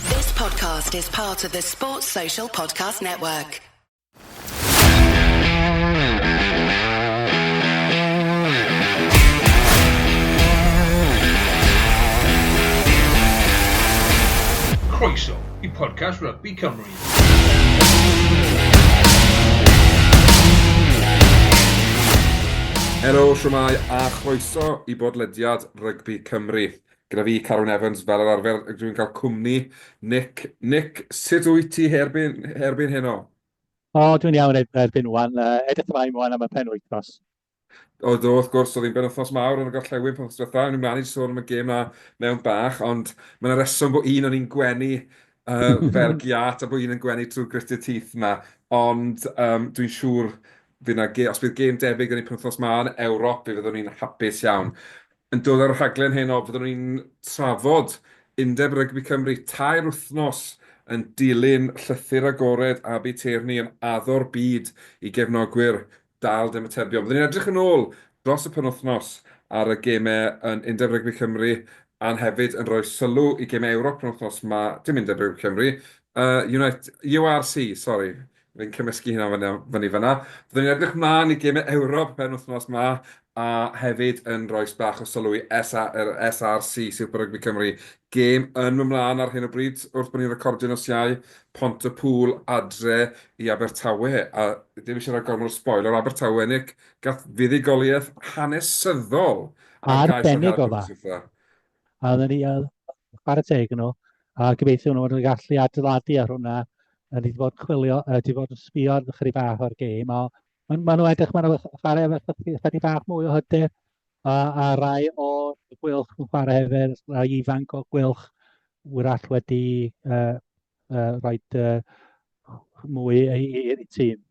This podcast is part of the Sports Social Podcast Network. Croeso i podcast Rugby Cymru. Helo, siwmai a chroeso i bodlediad Rygbi Cymru. Gyda fi, Carwyn Evans, fel yr arfer, dwi'n cael cwmni Nick. Nick, sut wyt ti herbyn, herbyn heno? O, dwi'n iawn e- erbyn wan. Uh, edrych ymlaen wan am y pen wythnos. O, do, wrth gwrs, oedd hi'n ben wythnos mawr yn y gorllewin pan ddetha. Ni'n mlaen i sôn am y gêm na mewn bach, ond mae'n reswm bod un o'n i'n gwenu uh, fel giat a bod un yn gwenu trwy gritted teeth na. Ond um, dwi'n siŵr fydd na gêm, os bydd gêm debyg yn ei penwthnos ma yn Ewrop, fe fyddwn ni'n hapus iawn. Yn dod â'r rhaglen heno, fyddwn ni'n trafod Undeb Rygbi Cymru tair wythnos yn dilyn Llythyr Agored Abi Tierney yn addo'r byd i gefnogwyr dâl dymatebion. Byddwn ni'n edrych yn ôl dros y penwythnos ar y gemau yn Undeb Rygbi Cymru a'n hefyd yn rhoi sylw i gemau Ewrop penwythnos 'ma, dim Undeb Rygbi Cymru, URC, sori, Fi'n cymysgu hynna fyny, fyny fan'na. Byddwn ni'n edrych mlaen i gêmau Ewrop y penwythnos 'ma, a hefyd yn rois bach o sylw i SA, yr SRC, Super Rugby Cymru. Gêm yn mynd mlaen ar hyn o bryd, wrth bod ni'n recordio nos Iau, Pont y Pŵl adre i Abertawe, a ddim eisiau rhoi gormod o sboil ar Abertawe, Nick, gath fuddugoliaeth hanesyddol ar gais o'r Heddlu wythnos ddiwetha'. A oedden ni yn chwarae teg yn nhw, a gobeithio nhw fod yn gallu adeiladu ar hwnna. A ni wedi bod yn chwilio, a wedi bod yn sbio chydig bach o'r gêm, a maen ma nhw edrych, maen nhw chwarae efo chydig, chydig bach mwy o hyder, a, a rai o gwylch yn chwarae hefyd, rai ifanc o gwylch, wrach wedi uh, uh, rhoi uh, mwy i, i, i tîm.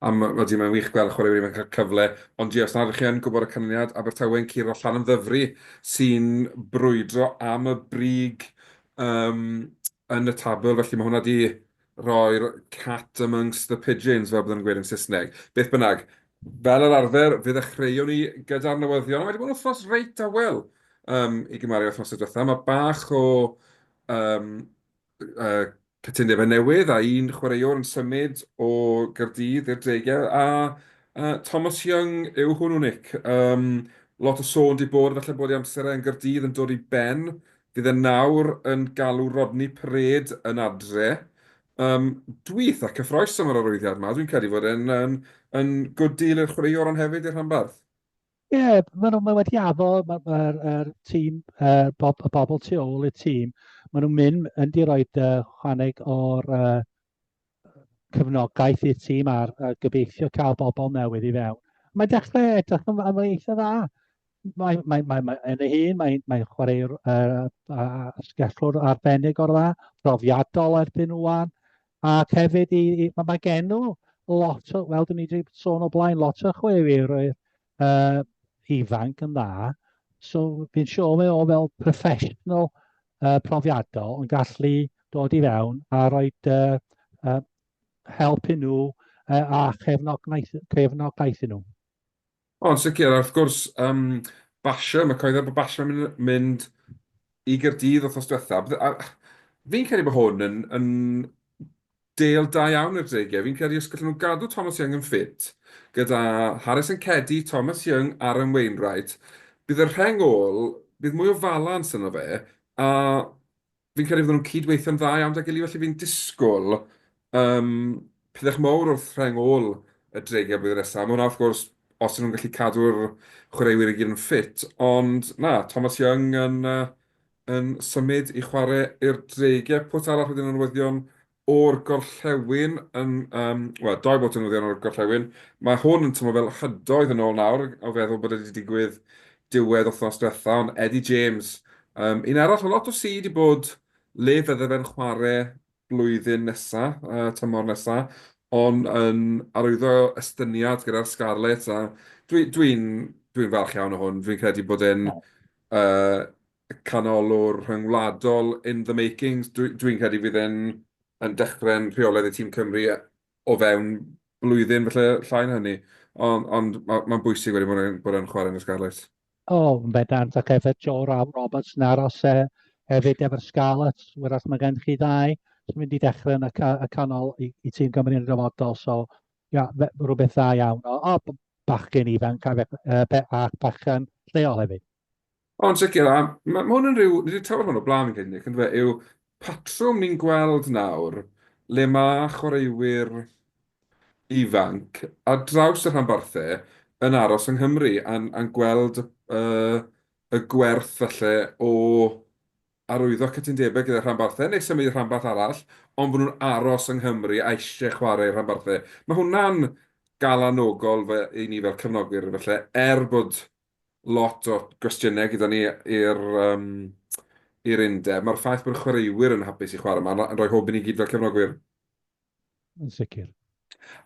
A m- odi, mae'n wych gweld y chwaraewyr ifanc yn cael cyfle, ond ie, os nad ydych chi yn gwybod y canlyniad, Abertawe yn curo Llanymddyfri, sy'n brwydro am y brig um, yn y tabl, felly mae hwnna wedi rhoi'r cat amongst the pigeons, fel byddwn yn gweud yn Saesneg. Beth bynnag, fel yr arfer, fe ddechreuwn ni gyda'r newyddion, a mae wedi bod yn wythnos reit dawel um, i gymaru â wythnosau diwethaf. Mae bach o um, cytundebau newydd a un chwaraewr yn symud o Gaerdydd i'r Dreigiau a Thomas Young yw hwnnw Nick. Yym lot o sôn 'di bod falle bod ei amser e yn Gaerdydd yn dod i ben. Fydd e nawr yn galw Rodney Parade yn adre. Yym dwi eitha cyffrous am yr arwyddiad 'ma, dwi'n credu fod e'n yn yn good deal i'r chwaraewr ond hefyd i'r rhanbarth. Ie, maen nhw, mae wedi addo, mae'r ma, ma er, tîm, er, bob, y bobl tu ôl i'r tîm, maen nhw'n mynd yn di roi uh, chwaneg o'r uh, cyfnogaeth i'r tîm a'r uh, gobeithio cael bobl newydd i fewn. Mae dechrau edrych yn, yn eitha dda. Mae, mae, mae, mae yn ei hun, mae'n mae chwaraewr uh, uh, sgellwr arbennig o'r dda, profiadol erbyn rwan. Ac hefyd, i, i, mae, mae gen nhw lot o, wel, dyn ni wedi sôn o blaen, lot o chwefeirwyr uh, ifanc yn dda. So, fi'n siŵr mae o fel professional uh, profiadol yn gallu dod i fewn a rhoi uh, uh, help i nhw uh, a chefnogaeth, chefnogaeth i nhw. O, yn sicr, a wrth gwrs, yym, basio, mae cyhoeddiad bod basio yn mynd mynd i Gaerdydd wythnos diwetha', bydde- a fi'n credu bod hwn yn yn deal da iawn i'r dreigiau, fi'n credu os gallen nhw gadw Thomas Young yn ffit, gyda Harrison Keddie, Thomas Young, Aaron Wainwright, bydd y rheng ôl, bydd mwy o falans yno fe, a Fi'n credu fydden nhw'n cyd-weithio'n dda iawn 'da gily, felly fi'n disgwyl yym pydach mowr wrth rheng ôl y Dreigiau blwyddyn nesa. Ma' hwnna wrth gwrs os 'yn nhw'n gallu cadw'r chwaraewyr i gyd yn ffit, ond na, Thomas Young yn yy yn symud i chware i'r Dreigiau. Pwt arall wedyn o newyddion O'r gorllewin, yn, um, wel, dau bot yn newyddion o'r gorllewin. Mae hwn yn tymlo fel hydoedd yn ôl nawr, o feddwl bod wedi digwydd diwedd othnos diwetha, ond Eddie James, um, un arall o lot o si di bod le fydde fe'n chwarae blwyddyn nesa, uh, tymor nesa, ond yn arwyddo estyniad gyda'r Scarlets, a dwi'n dwi, dwi, dwi falch iawn o hwn, dwi'n credu bod e'n uh, y canolwr rhyngwladol in the making. Dwi'n credu fydd e'n yn dechrau'n rheolaidd i tîm Cymru o fewn blwyddyn, falle llai na hynny. Ond, ond mae'n bwysig wedi bod e'n, bod e'n chwarae yn y Scarlets. O, oh, yn bedant, ac efo Joe Ralph Roberts yn aros e, hefyd efo'r Scarlets, wrach mae gen chi ddau sy'n mynd i dechrau yn y, ca y canol i, i tîm Cymru yn y dyfodol. So, ia, yeah, rhywbeth dda iawn. O, oh, bachgen ifanc a, uh, a bachgen lleol hefyd. O, yn sicr, a ma' hwn yn rhyw... ni 'di trafod hwn o'r blaen fi'n credu, Nick, yndyfe, yw patrwm ni'n gweld nawr le mae chwaraewyr ifanc ar draws y rhanbarthau yn aros yng Nghymru a'n gweld y gwerth falle o arwyddo cytundebau gyda rhanbarthau neu symud i rhanbarth arall ond bod nhw'n aros yng Nghymru a eisiau chwarae i rhanbarthau. Mae hwnna'n galanogol i ni fel cefnogwyr falle er bod lot o gwestiynau gyda ni i'r yym i'r undeb. Mae'r ffaith bod y chwaraewyr yn hapus i chwarae yma yn rhoi hwb i ni gyd fel cefnogwyr. Yn sicr.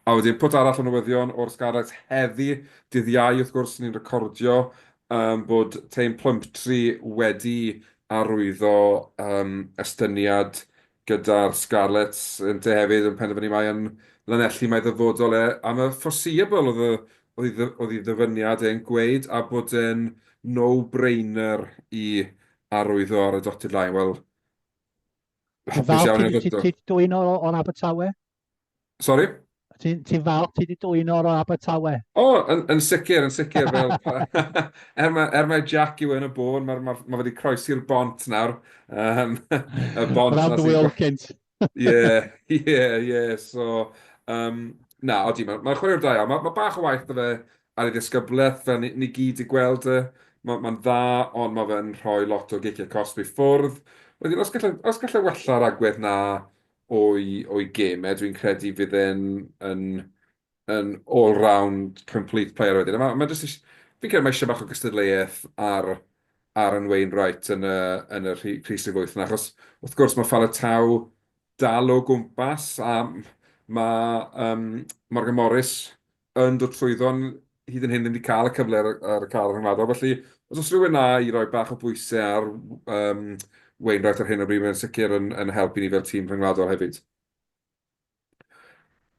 A wedyn pwt arall o newyddion o'r Scarlets heddi, dydd Iau wrth gwrs ni'n recordio um, bod teim Plumtree wedi arwyddo um, estyniad Gyda'r Scarlets yntau hefyd yn penderfynu mai yn Lanelli mae ddyfodol e, am y foreseeable oedd ei ddyfyniad e'n gweud, a bod e'n no brainer i arwyddo ar y dotted line, wel, hapus iawn i Roberto. Ti'n dwyn o'r Abertawe? Sorry? Ti'n ti falch ti wedi dwy'n o'r Abertawe? O, oh, yn, yn sicr, yn sicr. Fel, er, mae, er mae Jack yw yn y bôn, mae ma, ma wedi croesi'r bont nawr. Um, y bont Round the wheel cynt. Ie, ie, ie. So, um, na, odi, mae'n ma chwaraewr da iawn. Mae ma bach o waith da fe ar ei ddisgyblaeth, fel ni, ni gyd i gweld y... E. Mae'n ma dda, ond mae fe'n rhoi lot o giciau cosb i ffwrdd. Wedyn, os gallai, os gallai wella'r agwedd na, o'i gêm e, dwi'n credu fydd e'n yn all-round complete player wedyn. A mae jyst eisiau... fi'n credu mae eisiau bach o gystadleuaeth ar Aaron Wainwright yn y rhif sydd wyth 'na. Achos wrth gwrs mae Faletau dal o gwmpas a mae Morgan Morris yn dod trwyddo, ond hyd yn hyn ddim wedi cael y cyfle ar, ar y car rhyngwladol. Felly, os oes rhywun na i roi bach o bwysau ar um, Wainwright ar hyn o bryd, mae'n sicr yn, yn helpu ni fel tîm rhyngwladol hefyd.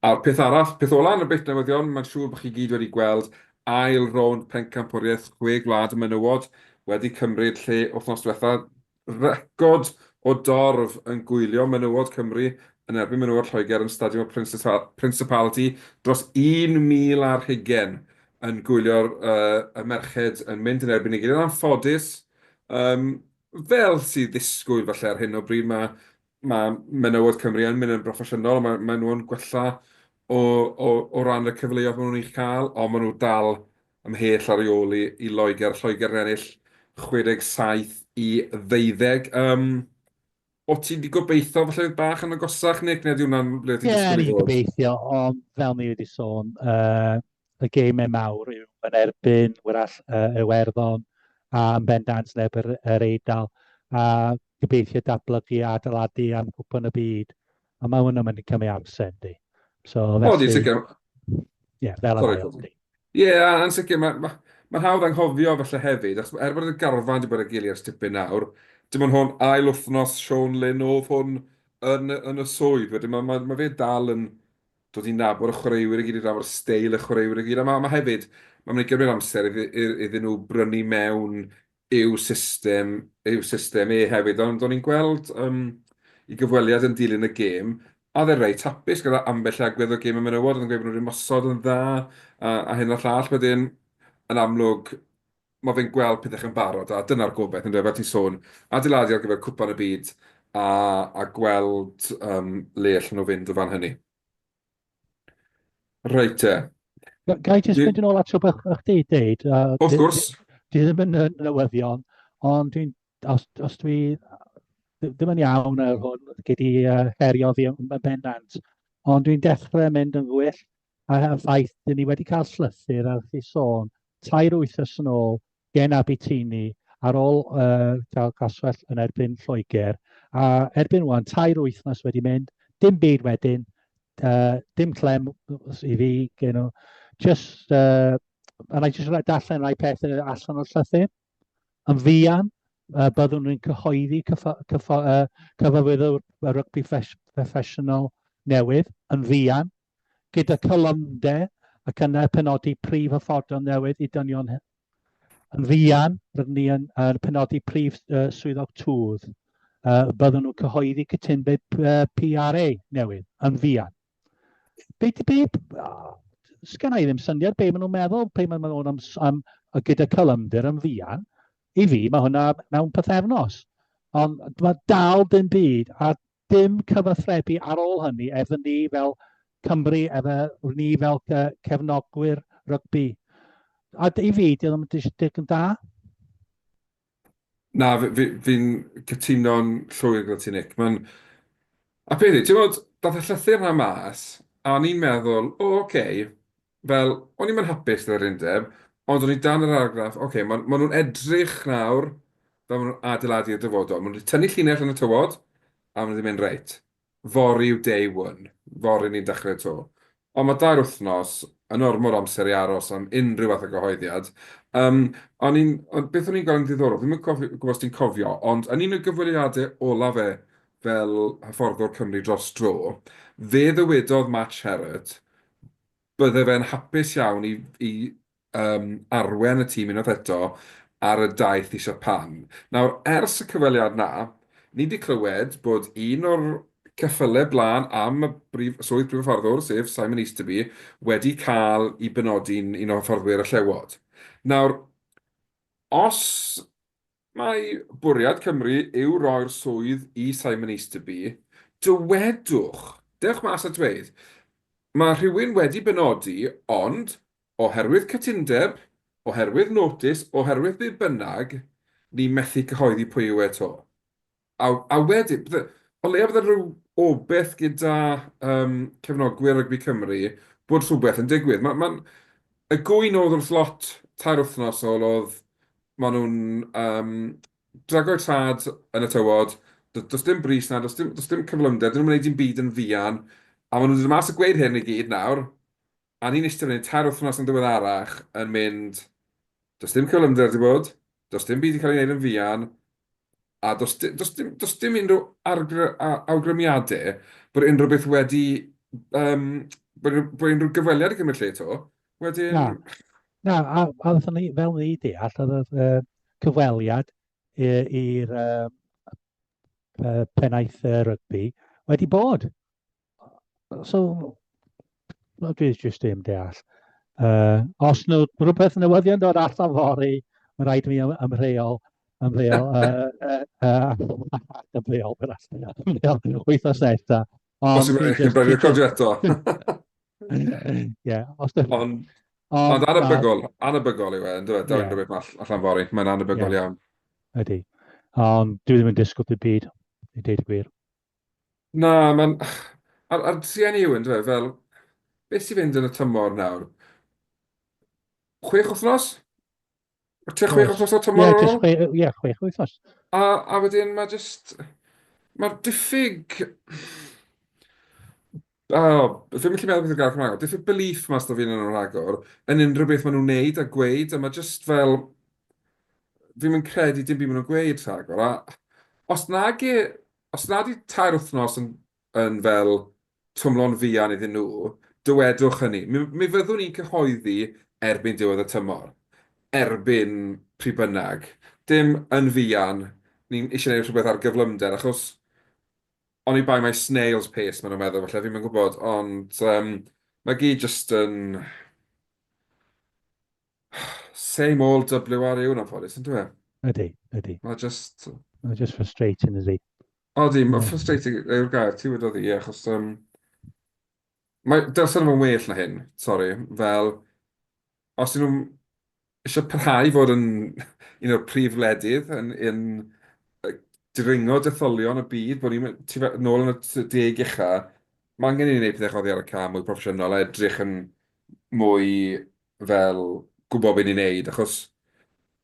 A'r peth arall, peth ola yn y beth newyddion, mae'n siŵr bod chi gyd wedi gweld ail rownd pencampwriaeth chwe gwlad y menywod wedi cymryd lle wythnos diwetha, Record o dorf yn gwylio menywod Cymru yn erbyn menywod Lloegr yn Stadiwm y Principality dros 1,000 ar hugain yn gwylio y merched yn mynd yn erbyn ei gilydd. Yn anffodus, fel sy'n ddisgwyl falle ar hyn o bryd, mae ma' menywod Cymru yn mynd yn broffesiynol, a ma' maen nhw yn gwella o o o ran y cyfleoedd maen nhw'n ei chael, ond maen nhw dal ymhell ar ei ôl i i Loegr. Lloegr yn ennill 67 i 12. Yym, o' ti wedi gobeithio falle oedd bach yn agosach, Nick, neu ydy hwnna'n ble ti'n disgwyl i fod? Ie, o'n i'n gobeithio, ond fel ni wedi sôn, yy, y gêmau mawr yw yn erbyn wrach uh, Iwerddon a yn bendant neb yr, yr Eidal a gobeithio datblygu a adeiladu am gwpwn y byd. A mae hwn yn mynd i cymryd amser, di. So, felly... O, di, sicr. Ie, fel y mae o'n di. Ie, yn sicr, mae'n ma, ma hawdd anghofio felly hefyd, achos er bod y garfan wedi bod y gili ers tipyn nawr, dim ond hwn ail wythnos Sean Lynn oedd hwn yn, yn y swydd, wedyn mae ma, ma fe dal yn dod i nabod y chwaraewyr i gyd, i nabod y steil y chwaraewyr i gyd, a mae ma hefyd, mae'n mynd i gymryd amser iddyn nhw brynu mewn i'w system, i'w system e hefyd, ond o'n i'n gweld um, i gyfweliad yn dilyn y gêm, a dde rei tapus gyda ambell agwedd o gêm y menywod, oedd yn gweud bod nhw'n ymosod yn dda, a, a hyn a llall, wedyn yn amlwg mae fe'n gweld pethau chi'n barod, a dyna'r gobaith, yn dweud, fel ti'n sôn, adeiladu ar gyfer cwpan y byd, a, a gweld um, le allan nhw fynd o fan hynny. Rhaid te. Ga i jyst mynd yn ôl at o beth o'ch di, Deid? Of gwrs. Di ddim yn newyddion, ond dwi'n, os, os dwi ddim yn iawn ar hwn, gei di uh, herio fi yn bendant, ond dwi'n dechrau mynd yn gwyll A'r ffaith, dyn ni wedi cael llythyr ar chi sôn tair wythnos yn ôl gen Abitini ar ôl uh, cael caswell yn erbyn Lloegr, a erbyn wan, tair wythnos wedi mynd, dim byd wedyn, uh, dim clem i fi gen nhw, just, uh, and I just darllen rai pethau allan o'r llythyr, yn fuan, uh, byddwn ni'n cyhoeddi cyfwyddwr y rygbi proffesiynol newydd yn fuan, gyda cholymder ac yna penodi prif hyfforddon newydd i dynion hŷn. Yn fuan, rydyn ni yn, yn penodi prif uh, swyddog twf. Uh, byddwn nhw'n cyhoeddi cytunbyd uh, PRA newydd yn fuan. Be, be, oh, sgan i ddim syniad be maen nhw'n meddwl, pe maen nhw'n am, am, am gyda cylymder yn fuan. I fi, mae hwnna mewn pethefnos. Ond mae dal dim byd, a dim cyfathrebu ar ôl hynny efo ni fel Cymru, efo ni fel cefnogwyr rygbi. A i fi, di ddim yn dig yn da. Na, fi'n fi, fi cytuno'n llwyr gyda ti, Nick. Mae'n... A peth i, ti'n bod, dath y llythyr yna mas, a o'n i'n meddwl, o, oce, okay, fel, o'n i'm yn hapus gyda'r undeb, ond o'n i dan yr argraff, oce, okay, maen ma nhw'n edrych nawr fel maen nhw'n adeiladu y dyfodol. Maen nhw wedi tynnu llinell yn y tywod, a maen nhw wedi mynd reit. Fori yw day one, fori ni'n dechrau to. Ond mae dair wythnos yn ormod amser i aros am unrhyw fath o gyhoeddiad. Um, o'n i'n, on, beth o'n i'n gweld yn ddiddorol, ddim yn cofio, gwybod os ti'n cofio, ond yn un o gyfweliadau olaf e fel hyfforddwr Cymru dros dro, fe ddywedodd Matt Sherratt, bydde fe'n hapus iawn i i yym arwen y tîm unwaith eto ar y daith i Siapan. Nawr, ers y cyfweliad 'na, ni 'di clywed bod un o'r ceffyle blaen am y brif- swydd Prif Hyfforddwr, sef Simon Easterby, wedi cael 'i benodi'n un o hyfforddwyr y Llewod. Nawr, os Mae bwriad Cymru yw roi'r swydd i Simon Easterby. Dywedwch, dewch mas a dweud, 'Mae rhywun wedi benodi, ond, oherwydd cytundeb, oherwydd notis, oherwydd be bynnag, ni methu cyhoeddi pwy yw e 'to. A a wedyn bydde... o leia' bydde rhyw obaith gyda yym cefnogwyr rygbi Cymru bod rhywbeth yn digwydd. Ma' ma'n... y gŵyn oedd wrth lot tair wythnos ôl oedd ma' nhw'n yym drago'u traed yn y tywod, do- does dim brys 'na, does dim does dim cyflymder, 'dyn nhw'm yn wneud dim byd yn fuan, a ma' nhw'n dod mas a gweud hyn i gyd nawr, A ni'n eistedd fan hyn tair wythnos yn ddiweddarach yn mynd, does dim cyflymder wedi bod, does dim byd wedi cael ei wneud yn fuan, a does, does, dim, does dim unrhyw argr, awgrymiadau bod unrhyw beth wedi, um, bod, bod unrhyw gyfweliad i gymryd lle to. Wedyn... Na, na a, a wrth ni, fel ni deall, oedd y uh, cyfweliad i'r uh, uh, pennaeth uh, rygbi wedi bod. So, no, dwi jyst ddim deall. Uh, os nhw rhywbeth newyddion dod allan fori, mae rhaid i mi ymrheol, ymrheol, ymrheol, ymrheol, wythnos nesa. Os yw'n eich brifio cofio eto. Ie, os ydych. Ond ond anabygol, anabygol yw e, yn dweud, dawn rhywbeth allan fori, mae'n anabygol iawn. Ydy. Ond dwi ddim yn disgwyl dim byd, i dweud y gwir. Na, mae'n... A'r a'r trueni yw, yndyfe, fel beth sy'n mynd yn y tymor nawr? Chwech wythnos? O tua chwech Oes. wythnos o Ie, tymor ar jyst ôl? chwe, ie, chwech wythnos. A, a wedyn mae jyst... Mae'r diffyg... O, fi'm yn gallu meddwl beth yw'r gair Cymraeg o. Diffyg belief mas 'da fi arnyn nhw rhagor, yn unrhyw beth maen nhw'n wneud a gweud, a ma' jyst fel... fi'm yn credu dim byd maen nhw'n gweud rhagor, a os nag e... os nad yw tair wythnos yn yn fel twmlo'n fuan iddyn nhw, dywedwch hynny. Mi mi fyddwn i'n cyhoeddi erbyn diwedd y tymor, erbyn pryd bynnag. Dim yn fuan, ni'n eisiau gwneud rhywbeth ar gyflymder, achos Oni bai mai snail's pace maen nhw'n meddwl falle, fi'm yn gwybod, ond um, mae gyd jyst yn... Same old WRU yn anffodus, yn dweud? Ydy, ydy. Mae jyst... Mae jyst frustrating, ydy. Odi, mae frustrating yw'r gair, ti wedi dod i, achos... Um, Mae dylse nhw fod yn well na hyn, sori. Fel, os ydyn nhw eisiau parhau i fod yn un o'r prif wledydd yn, yn dringo detholion y byd, bod ni'n tu fe- nôl yn y t- deg ucha, mae angen i ni wneud pethau oddi ar y cae mwy proffesiynol a edrych yn mwy fel gwybod beth ni'n neud, achos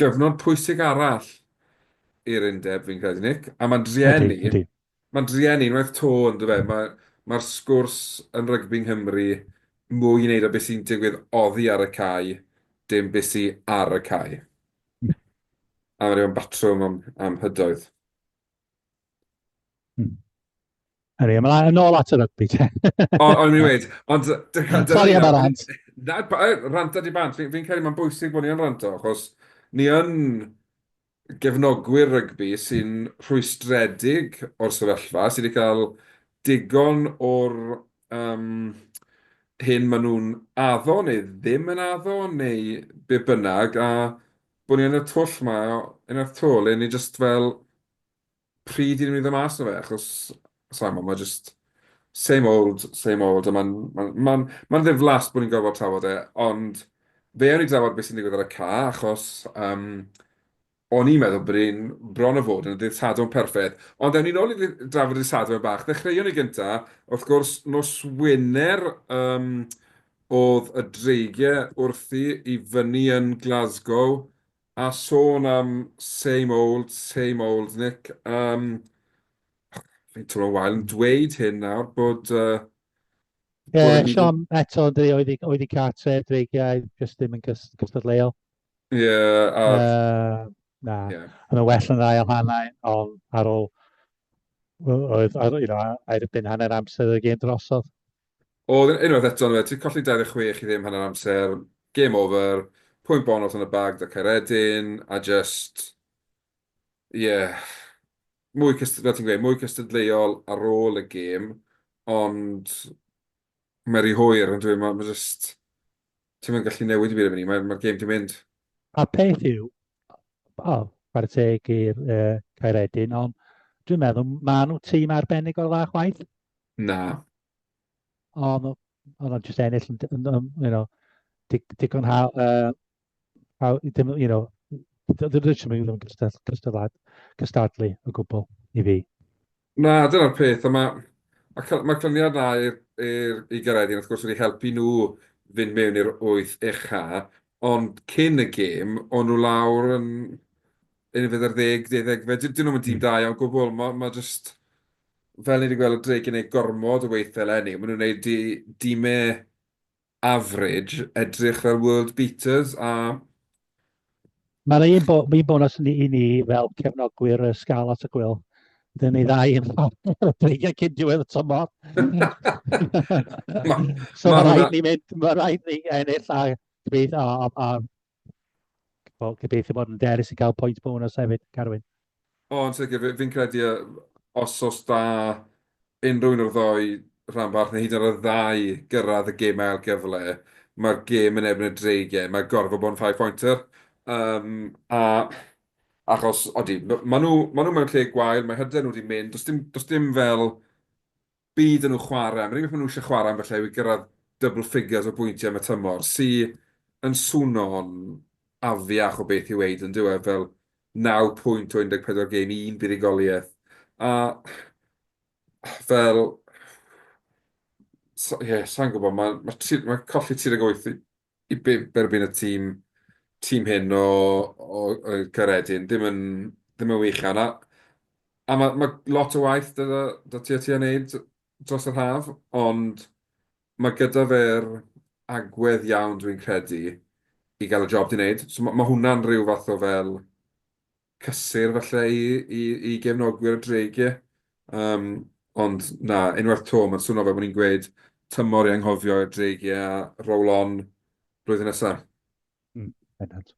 Gyfnod pwysig arall i'r undeb fi'n credu Nick, a mae'n drueni... Ydy, ydy. ...mae'n drueni unwaith to yn dyw e, mae mae'r sgwrs yn rygbi yng Nghymru mwy i wneud â beth sy'n digwydd oddi ar y cae, dim beth sy ar y cae. A mae rhyw yn batrwm am am hydoedd. Hmm. Anyway, ymlaen yn ôl at y rygbi te. o, o'n i'n weid, ond... Sorry am y rant. Na, ranta di bant, fi'n fi credu mae'n bwysig bod ni yn ranto, achos ni yn gefnogwyr rygbi sy'n rhwystredig o'r sefyllfa, sydd wedi cael digon o'r um, hyn maen nhw'n addo neu ddim yn addo neu be bynnag, a bod ni yn y twll ma, yn y twll, le ni jyst fel pryd i ni fynd mas o fe, achos, saimo, mae ma jyst same old, same old, a mae'n ma, ma, ma ddiflas bod ni'n gorfod trafod e, ond fe o'n i drafod beth sy'n digwydd ar y ca, achos um, o'n i'n meddwl bod e'n bron o fod yn y dydd Sadwrn perffaith. Ond ewn ni'n ôl i drafod y Sadwrn bach. Ddechreuon ni gynta, wrth gwrs, nos Wener um, oedd y dreigiau wrthi i fyny yn Glasgow a sôn am same old, same old, Nick. Yym, fi'n teimlo'n wael yn dweud hyn nawr, bod... Uh, Ie, yeah, Sean eto, dwi oedd i, oedd i cartref, dwi gael jyst ddim yn cystadleuol. Ie, yeah, a... Uh, na, yeah. yn y well yn ail hanau, ond ar ôl, oedd, ar, you know, ar erbyn hanner amser y gêm drosodd. O, unwaith eto, na fe, ti'n colli 26 i ddim hanner amser, game over, pwynt bonws yn y bag 'da Caeredin, a jyst, ie, mwy cyst- fel ti'n gweud, mwy cystadleuol ar ôl y gêm, ond mae'n rhy hwyr, on'd yw e, ma' ma' jyst, ti'm yn gallu newid dim byd erbyn 'ny, mae'r mae'r gêm 'di mynd. A'r peth yw, o, chwarae teg i'r yy Caeredin, ond dwi'n meddwl ma' nhw tîm arbennig o dda chwaith. Na. O, ma- oedd o'n jyst ennill yn, yn, yn, you know, dig, digon ha, uh, ha, dim, you know, dy- dy- dim yn ddim cystad- cystadlad, cystadlu o gwbl i fi. Na, dyna'r peth, a mae ma cy- ma cyniad na i'r i'r- i Gaeredin, wrth gwrs, wedi helpu nhw fynd mewn i'r wyth ucha, ond cyn y gêm, o'n nhw lawr yn yn y fydde'r ddeg, deuddegfed, dyn nhw'n dîm Mm. da iawn gwbl, mae ma jyst, fel ni wedi gweld, Drake yn gwneud gormod o weithiau eleni. Maen nhw'n gwneud di, dimau average, edrych fel world beaters a... Mae'n un, bo, un bonus ni, i ni fel cefnogwyr y Scarlet y Gwyl. Dyn ni ddau yn dreigiau cyn diwedd y tymor. so mae rhaid ni mynd, mae rhaid ni ennill a, a, a, a Wel, gobeithio bod yn deres i gael pwynt bonus hefyd, Carwyn. O, yn sicr, fi'n credu os os da unrhyw un o'r ddoi rhan bach, neu hyd yn oed y ddau gyrraedd y gêm ail gyfle, mae'r gêm yn erbyn y dreigiau, mae gorfod bod yn five pointer. Um, a achos, odi, maen nhw, ma nhw mewn lle gwael, mae hyder nhw wedi mynd, does dim, does dim fel Bydd yn nhw chwarae, am yr unig beth maen nhw eisiau chwarae ambell ai yw i gyrraedd double figures o bwyntiau am y tymor, sy yn swno'n afiach o beth i'w weud yn dyw e, fel naw pwynt o 14 gêm, un buddugoliaeth, a fel, sa- ie, sa i'n gwybod, ma- ma' tri- ma' colli 38 i dderbyn y tîm tîm hyn o o yy Caeredin ddim yn ddim yn wych a na a ma' ma' lot o waith 'da 'da ti a ti a neud dros yr haf ond ma' gyda fe'r agwedd iawn dwi'n credu i gael y job 'di neud so ma' ma' hwnna'n rhyw fath o fel cysur falle i i i gefnogwyr y Dreigiau. Yym, ond na, unwaith 'to, mae'n swnio fel bod ni'n gweud tymor i anghofio i'r Dreigiau a roll on blwyddyn nesa. Mm, bendant.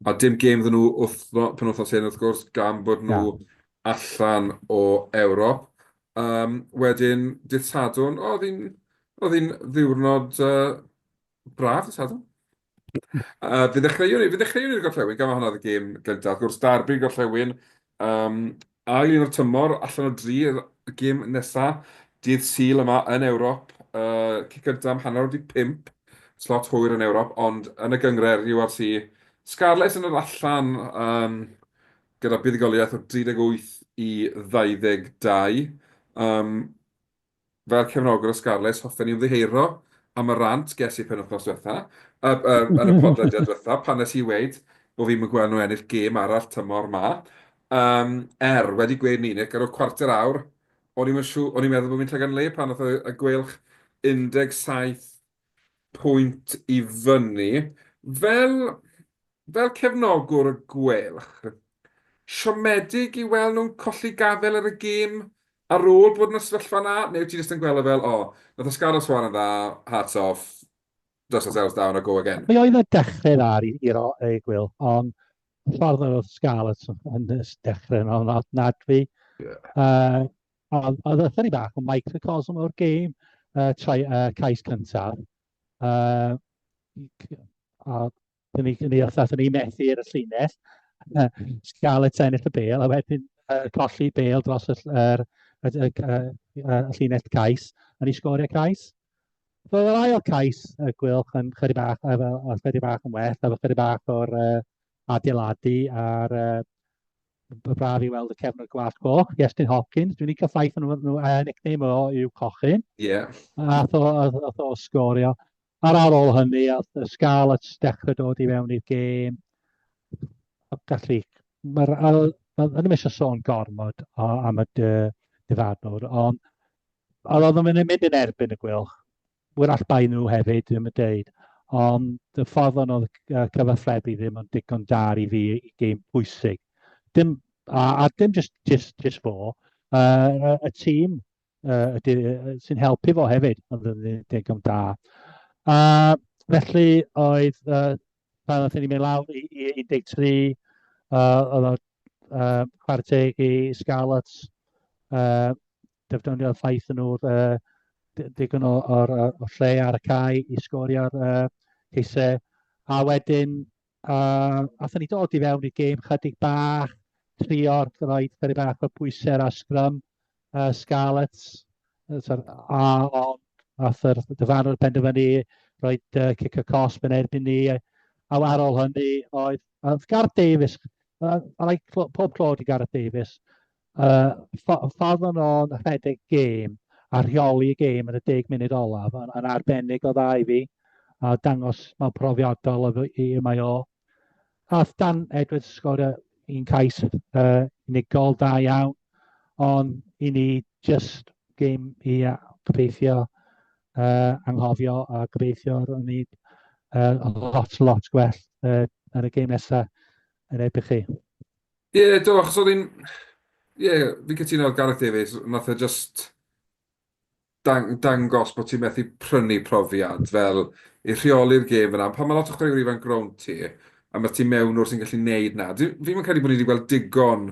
A dim gêm iddyn nhw wythno- penwythnos hyn wrth gwrs, gan bod nhw... Na. ...allan o Ewrop. Yym, wedyn dydd Sadwrn, o, o'dd hi'n o'dd hi'n ddiwrnod yy braf, dydd Sadwrn. Fe ddechreuwn i, fe ddechreuwn i'r gorllewin, gan mai hwnna oedd y gêm gyntaf. Wrth gwrs, darbi'r gorllewin, um, ail un o'r tymor, allan o dri, y gêm nesaf, dydd Sul yma yn Ewrop, uh, cic gyntaf am hanner wedi pimp, slot hwyr yn Ewrop, ond yn y gyngred, URC, Scarlets yn yr allan, um, gyda buddigoliaeth o 38 i 22. Um, Fel cefnogwr o Scarlets, hoffen ni ymddiheuro am y rant ges i penwythnos diwetha', yy yy yn y podlediad diwetha', pan nes i weud bo' fi'm yn gwel' nhw ennill gêm arall tymor 'ma. Yym, er, wedi gweud 'ny, Nick, ar ol cwarter awr, o'n i'm yn siw- o'n i'n meddwl bo' fi'n llagan le pan nath y y Gweilch 17 pwynt i fyny, fel, fel cefnogwr y Gweilch, siomedig i weld nhw'n colli gafael ar y gêm ar ôl bod yn y sefyllfa 'na, neu wyt ti jyst yn gweld o fel, o, nath Oscardo swan yn dda, hats off, dust ourselves down a go again? Fe oedd y dechrau dda i, i ro, y Gweilch, ond y ffordd yr oedd Scarlets yn, yn dechrau yn ofnadwy. Ie. Yy, Ond oedd oedd ychydig bach o microcosm o'r gêm yy trai- yy cais cyntaf yy a dan ni dan ni wrth aethon ni i methu ar y llinell yy Scarlets ennill y bêl a wedyn yy colli bêl dros y ll- yr y y g- yy yy y llinell cais a ni sgorio cais. So yr ail cais y Gweilch yn chydig bach yy fel yy chydig bach yn well efo chydig bach o'r yy adeiladu a'r yy Mae'n braf i weld y cefn o'r glas coch, Iestyn Hopkins. Dwi'n licio ffaith nhw, nhw uh, nickname o yw Cochyn. Ie. Yeah. Ath o, ath, ath o sgorio. Ar ar ôl hynny, ath y Scarlets dechrau dod i fewn i'r gêm. Gallu, mae'r, yn ymwneud â sôn gormod am y dyfarnwr, ond oedd o'n mynd yn erbyn y gwylch. Wrach bai nhw hefyd, dwi'm yn deud. Ond y ffordd o'n oedd y cyfathrebu ddim yn digon da i fi i gêm pwysig. Dim, a, a dim just, just, just fo, uh, y tîm uh, sy'n helpu fo hefyd, ond ddim yn digon da. A felly oedd, uh, pan oedd ni'n mynd lawr i, i 13, uh, oedd o uh, chwarae teg i Scarlets, uh, defnyddio'r ffaith yn nhw'r uh, digon o, o, o lle ar y cae i sgorio'r uh, ceisau. A wedyn, uh, athyn ni dod i fewn i'r gêm chydig bach, trio'r roed chydig bach o bwysau a sgrym uh, Scarlets. A ond ath yr dyfarnwr penderfynu roed uh, cic y cosb yn erbyn ni. A ar ôl hynny, oedd, oedd Gareth Davies, uh, I like pob clod i Gareth Davies, Yy, ffo- ffordd o'n o'n rhedeg gêm a rheoli y gêm yn y deg munud olaf yn, yn arbennig o dda i fi a dangos mae'n profiadol o fy- i y mae o. Ath Dan Edwards sgorio un cais uh, unigol da iawn, ond i ni just gêm i uh, gobeithio uh, anghofio a gobeithio ro'n ni uh, lot, lot gwell uh, yn y gêm nesaf yn erbyn chi. Ie, do, achos oedd hi'n... Ie, fi'n cytuno oedd Gareth Davies, wnaeth e jyst dang- dangos bod ti'n methu prynu profiad fel i rheoli'r gêm fyna. Pan mae lot o chwaraewyr ifanc rownd ti, a mae ti mewn o'r sy'n gallu neud na. Dwi ddim yn credu bod ni wedi gweld digon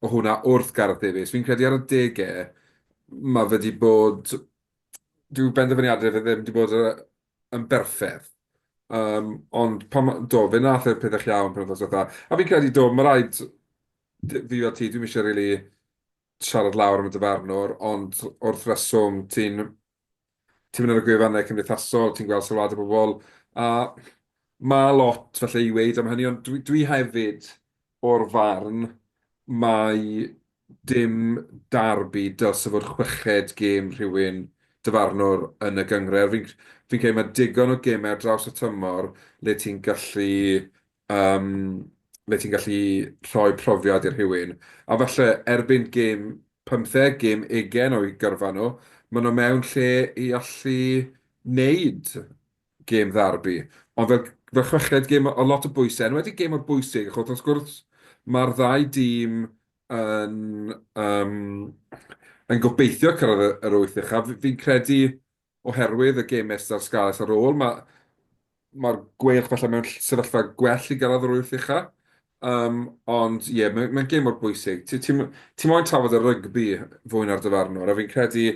o hwnna wrth Gareth Davies. Fi'n credu ar y degau, mae fe wedi bod... Dyw benderfyniadau fe ddim wedi bod yn berffedd. Um, ond pan, do, fe nath e'r pethau iawn pan oedd dda. A fi'n credu, do, mae rhaid fi o ti, dwi'n eisiau rili really siarad lawr am y dyfarnwr, ond wrth reswm, ti'n ti'n mynd ar y gwefannau cymdeithasol, ti'n gweld sylwad o bobl, a mae lot felly i weid am hynny, ond dwi, dwi hefyd o'r farn mai dim derby dylse fod chweched gêm rhywun dyfarnwr yn y gynghrair. Fi'n fi'n credu mae digon o gemau ar draws y tymor le ti'n gallu yym le ti'n gallu rhoi profiad i rhywun. A falle erbyn gêm pymtheg, gêm ugain o'u gyrfa nhw, maen nhw mewn lle i allu wneud gêm ddarbi, ond fel, fel chweched gêm o lot o bwysau, yn wedi gêm o'r bwysig, achos wrth gwrs mae'r ddau dîm yn, um, yn gobeithio cyrraedd yr wyth uchaf. Fi'n credu oherwydd y gêm nesaf Scarlets ar ôl, mae'r ma gweilch falle mewn sefyllfa gwell i gyrraedd yr wyth uchaf. Um, ond ie, yeah, mae'n mae gêm o'r bwysig. Ti'n ti, ti moyn trafod y rygbi fwy na'r dyfarnwr, a fi'n credu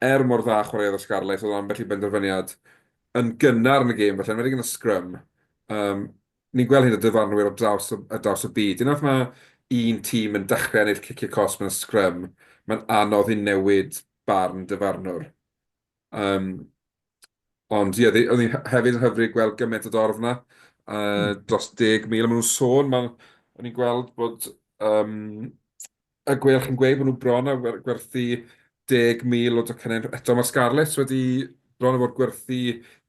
Er mor dda chwaraeodd y Scarlets, oedd ambell i benderfyniad yn gynnar yn y gêm, falle, yn enwedig yn y sgrym. Um, ni'n gweld hyn o dyfarnwyr ar draws, ar draws y byd. Unwaith mae un tîm yn dechrau ennill cicio cos mewn sgrym, mae'n anodd i newid barn dyfarnwr. Um, ond ie, yeah, oedd hi'n hefyd yn hyfryd gweld gymaint o dorf yna, uh, mm. dros 10,000, maen nhw'n sôn, maen, o'n i'n gweld bod um, A gwell chi'n gweud bod nhw bron a gwerthu 10,000 o docynnau eto. Mae'r Scarlets wedi bron a bod gwerthu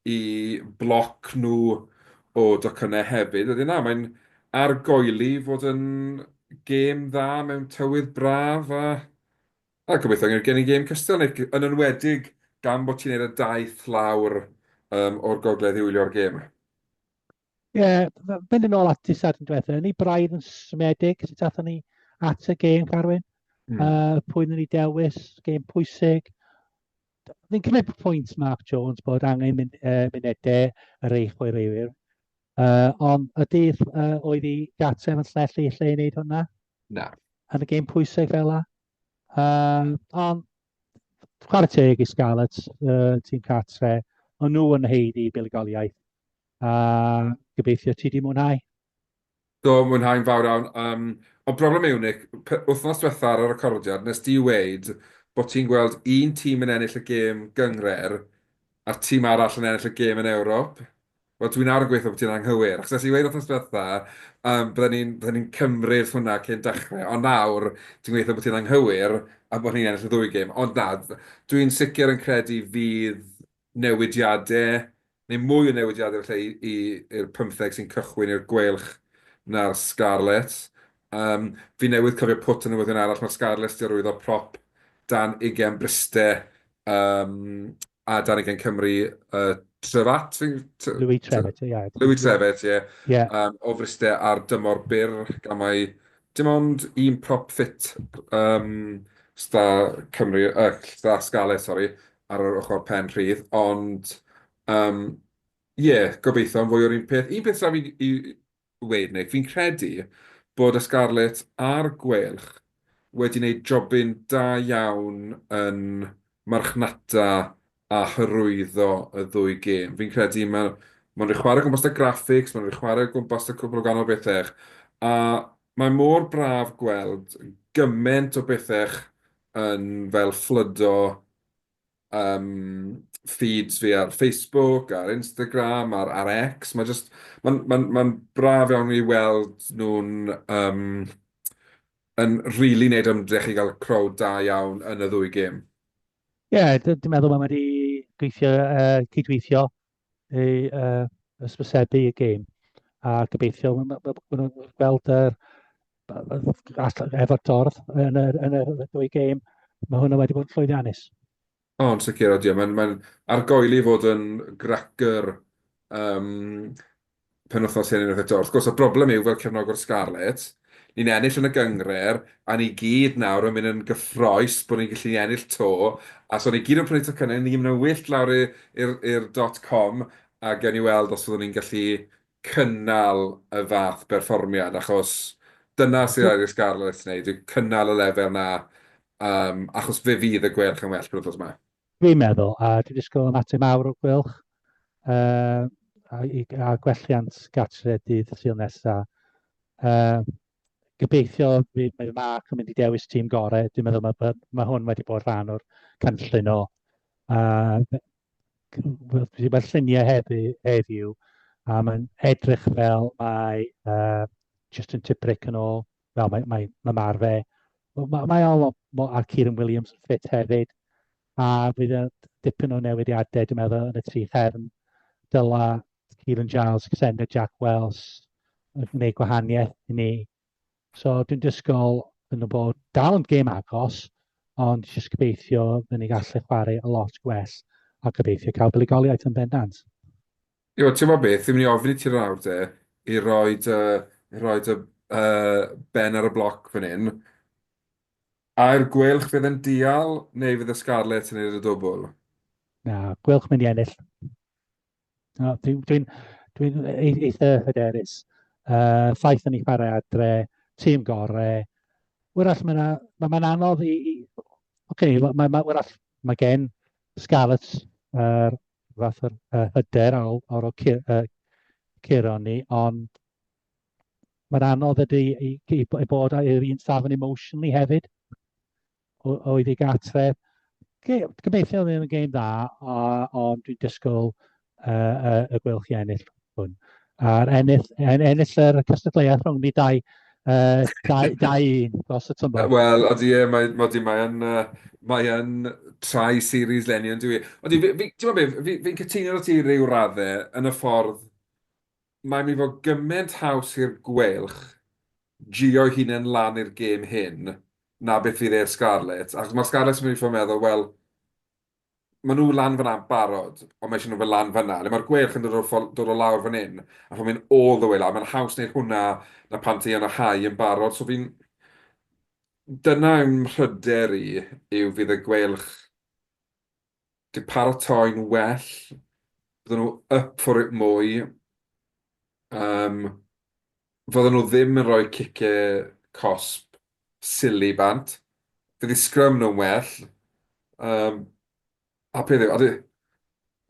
i bloc nhw o docynnau hefyd. Wedyn na, mae'n argoeli fod yn gêm dda mewn tywydd braf a a gobeithio gen gen i gêm cystal neu yn enwedig gan bod ti'n neud y daith lawr yym o'r gogledd i wylio'r gêm. Ie, mynd yn ôl at ti sadwrn diwetha, ni braidd yn smedig sut athon ni at y gêm, Carwyn. Mm. Uh, pwy ni dewis, gêm pwysig. Fi'n cymryd pwynt Mark Jones bod angen mynd, uh, munedau yr eich o'i reiwyr. Uh, ond y dydd uh, oedd i gatse yn llellu lle i wneud hwnna? Na. Yn y gêm pwysig fel la. Uh, ond chwarae teg i Scarlets, uh, tîm cartre, ond nhw yn heidi buligoliaeth a gobeithio ti di mwynhau. Do, mwynhau'n fawr iawn. Um, ond broblem yw, Nick, wythnos diwetha ar y recordiad, nes di weid bod ti'n gweld un tîm yn ennill y gêm gyngred a'r tîm arall yn ennill y gêm yn Ewrop. Wel, dwi'n ar yn gweithio bod ti'n anghywir, achos nes i weid wythnos diwetha, um, bydden ni'n bydde ni cymryd hwnna cyn dechrau, ond nawr, dwi'n gweithio bod ti'n anghywir a bod ni'n ennill y ddwy gêm. Ond na, dwi'n sicr yn credu fydd newidiadau, neu mwy o newidiadau efallai i i'r pymtheg sy'n cychwyn i'r Gweilch na'r Scarlets. Yym, fi newydd cofio pwt o newyddion arall, mae'r Scarlets 'di arwyddo prop dan ugain bryste yym a dan ugain Cymry yy Trevatt fi'n t- t- Louis Trevatt, ie. Louis Trevatt, ie. Ie. Yym, o fryste ar dymor byr gan mai dim ond un prop ffit yym 'sta Cymru yy 'sta Scarlets sori ar yr ochr pen rhydd, ond yym ie, gobeithio am fwy o'r un peth. Un peth sydd 'da fi i weud, Nick, fi'n credu bod y Scarlets a'r Gweilch wedi gwneud jobyn da iawn yn marchnata a hyrwyddo y ddwy gêm. Fi'n credu mae Mae'n rhaid chwarae gwmpas da graphics, mae'n rhaid chwarae gwmpas da cwbl o ganol bethau. A mae mor braf gweld gymaint o bethau yn fel fflwdo yym feeds fi ar Facebook, ar Instagram, ar ar X, ma' jyst ma'n ma'n ma'n braf iawn i weld nhw'n yym yn rili neud ymdrech i ga'l crowd da iawn yn y ddwy gêm. Ie, d- dwi'n meddwl ma' ma' 'di gweithio yy cydweithio ei uh, ysbysebu y gêm. A gobeithio, mae'n gweld yr efo'r dorf yn y, yn y dwy gêm, mae hwnna wedi bod yn llwyddiannus. O, yn sicr, odio. Mae'n mae argoeli fod yn gracker um, penwythnos hyn unwaith eto. Wrth gwrs, y broblem yw fel cefnogwr Scarlets, ni'n ennill yn y gyngred, a ni gyd nawr yn mynd yn gyffroes bod ni'n gallu ennill 'to, a so ni gyd yn prynu tocynnau, ni gyd yn mynd yn wyllt lawr i'r dot com, a gewn ni weld os fyddwn ni'n gallu cynnal y fath berfformiad, achos dyna sydd angen i'r Scarlets wneud, yw cynnal y lefel 'na, achos fe fydd y gwellt yn well penwythnos 'ma. Dwi'n meddwl, a dwi'n disgwyl ymateb mawr o Gwilch yy a gwelliant gartre dydd Sul nesa. Yy gobeithio fydd mae Mark yn mynd i dewis tîm gorau, dwi'n meddwl mae ma' ma' hwn wedi bod rhan o'r cynllun o a wel dwi wedi gweld lluniau heddi heddiw a mae'n edrych fel mae yy Justin Tipuric yn ôl Wel, mae, mae, mae mar fe. Mae, mae o lot, a Kieran Williams yn ffit hefyd. A bydd y dipyn o newidiadau, dwi'n meddwl, yn y tri chefn. Dyla Kieran Giles, Xander Jack Wells yn gwneud gwahaniaeth i ni. So dwi'n dysgol yn y bod dal yn gêm agos, ond jyst gobeithio fy ni gallu chwarae a lot gwell a gobeithio cael buligoliaeth yn bendant. Iw, ti'n gwybod beth, fi'n mynd i ofyn i ti nawr de, i roi dy, i roi dy uh, ben ar y bloc fan hyn. A'r gwelch fydd yn dial neu fydd y Scarlets yn ei y dwbl? Na, gwelch mynd i ennill. No, dwi'n dwi dwi e-, eitha hyderus. Uh, ffaith yn ei chwarae adre, tîm gorau. Wyrach, mae'n ma, ma anodd i... i okay, mae ma, ma, ma gen Scarlets yr uh, fath o'r uh, hyder ar ôl, ar ôl cur, uh, curo ni, ond mae'n anodd ydy i, i, i bod ar un safon emotionally hefyd, oedd i gatref. Gobeithio ddim yn gêm dda, ond dwi'n disgwyl uh, uh, y gwelch i ennill. hwn. A'r ennill, en, ennill yr cystadleuaeth rhwng ni dau, uh, dau, dau un dros y tymor. Wel, o di e, mae, mae, di, mae yn, uh, mae yn trai series lenni yn dwi. O di, fi'n fi, fi, fi, fi, fi cytuno o ti rhyw raddau yn y ffordd mae'n mynd i fod gymaint haws i'r gwelch gio hunain lan i'r gêm hyn na beth fydd e'r Scarlets. Achos mae'r Scarlets yn mynd i ffordd meddwl, wel, maen nhw lan fyna barod, ond mae eisiau nhw fel lan fyna. Le mae'r gweilch yn dod o, dod o lawr fan hyn, a rhywun mynd all the way lawr. Mae'n haws wneud hwnna na pan ti yn y hau yn barod. So fi'n... Dyna yw mhryder i, yw fydd y gweilch di paratoi'n well, bydden nhw up for it mwy. Um, fyddan nhw ddim yn rhoi cice cosb silly bant. Fydd i sgrym nhw'n well. Um, a peth yw, a di...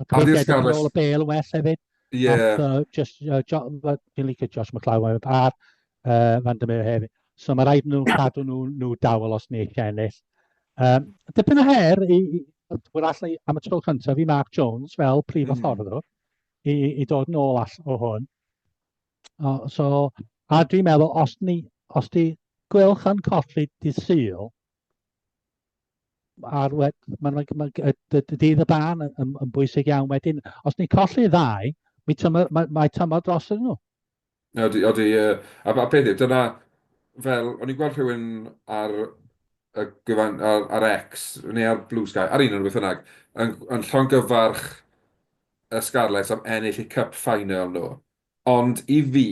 A peth yw, yn ôl y bel yn well hefyd. Ie. Yeah. Uh, just, uh, jo, uh, dwi'n licio Josh McLaughlin a'r uh, Van der Meer hefyd. So mae rhaid nhw cadw nhw, nhw dawel os ni eisiau ennill. Um, dipyn o her i, i wrth allu am y tro cyntaf i Mark Jones fel prif mm. afforddwr i, i dod yn ôl all o hwn. O, so, a dwi'n meddwl, os, ni, os di gwylch yn colli di syl, a'r wed, mae'n mae, mae, y, y, y dydd y ban yn, yn, yn bwysig iawn wedyn. Os ni'n colli ddau, mi tyma, mae, mae tymor dros yn nhw. Odi, odi, uh, a, a peth yw, dyna, fel, o'n i'n gweld rhywun ar, y gyfan, ar, ar X, neu ar Blue Sky, ar un o'n beth yna, yn, yn llongyfarch y Scarlets am ennill eu Cup Final nhw. Ond i fi,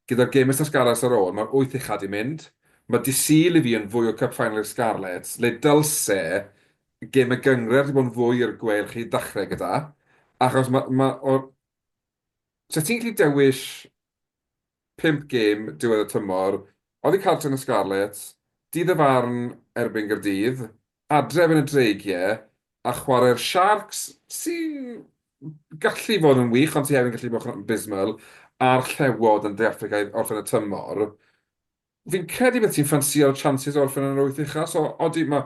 gyda'r gêm Mister Scarlets ar ôl, mae'r wyth uchaf 'di mynd. Mae Dydd Sul i fi yn fwy o Cup Final i'r Scarlets, le dylse gêm y gynghrair 'di bod yn fwy i'r gweill i ddechrau gyda, achos mae, mae, o, 'set ti'n gallu dewis pump gêm diwedd y tymor oddi cartref yn y Scarlets, dydd y farn erbyn Gaerdydd, adref yn y Dreigiau, a chwarae'r Sharks, sy'n gallu fod yn wych ond sy hefyd yn gallu bod yn abysmal, a'r Llewod yn De Affrica i orffen y tymor. Fi'n credu byddet ti'n ffansïo chances o orffen yn yr wyth ucha, so odi, mae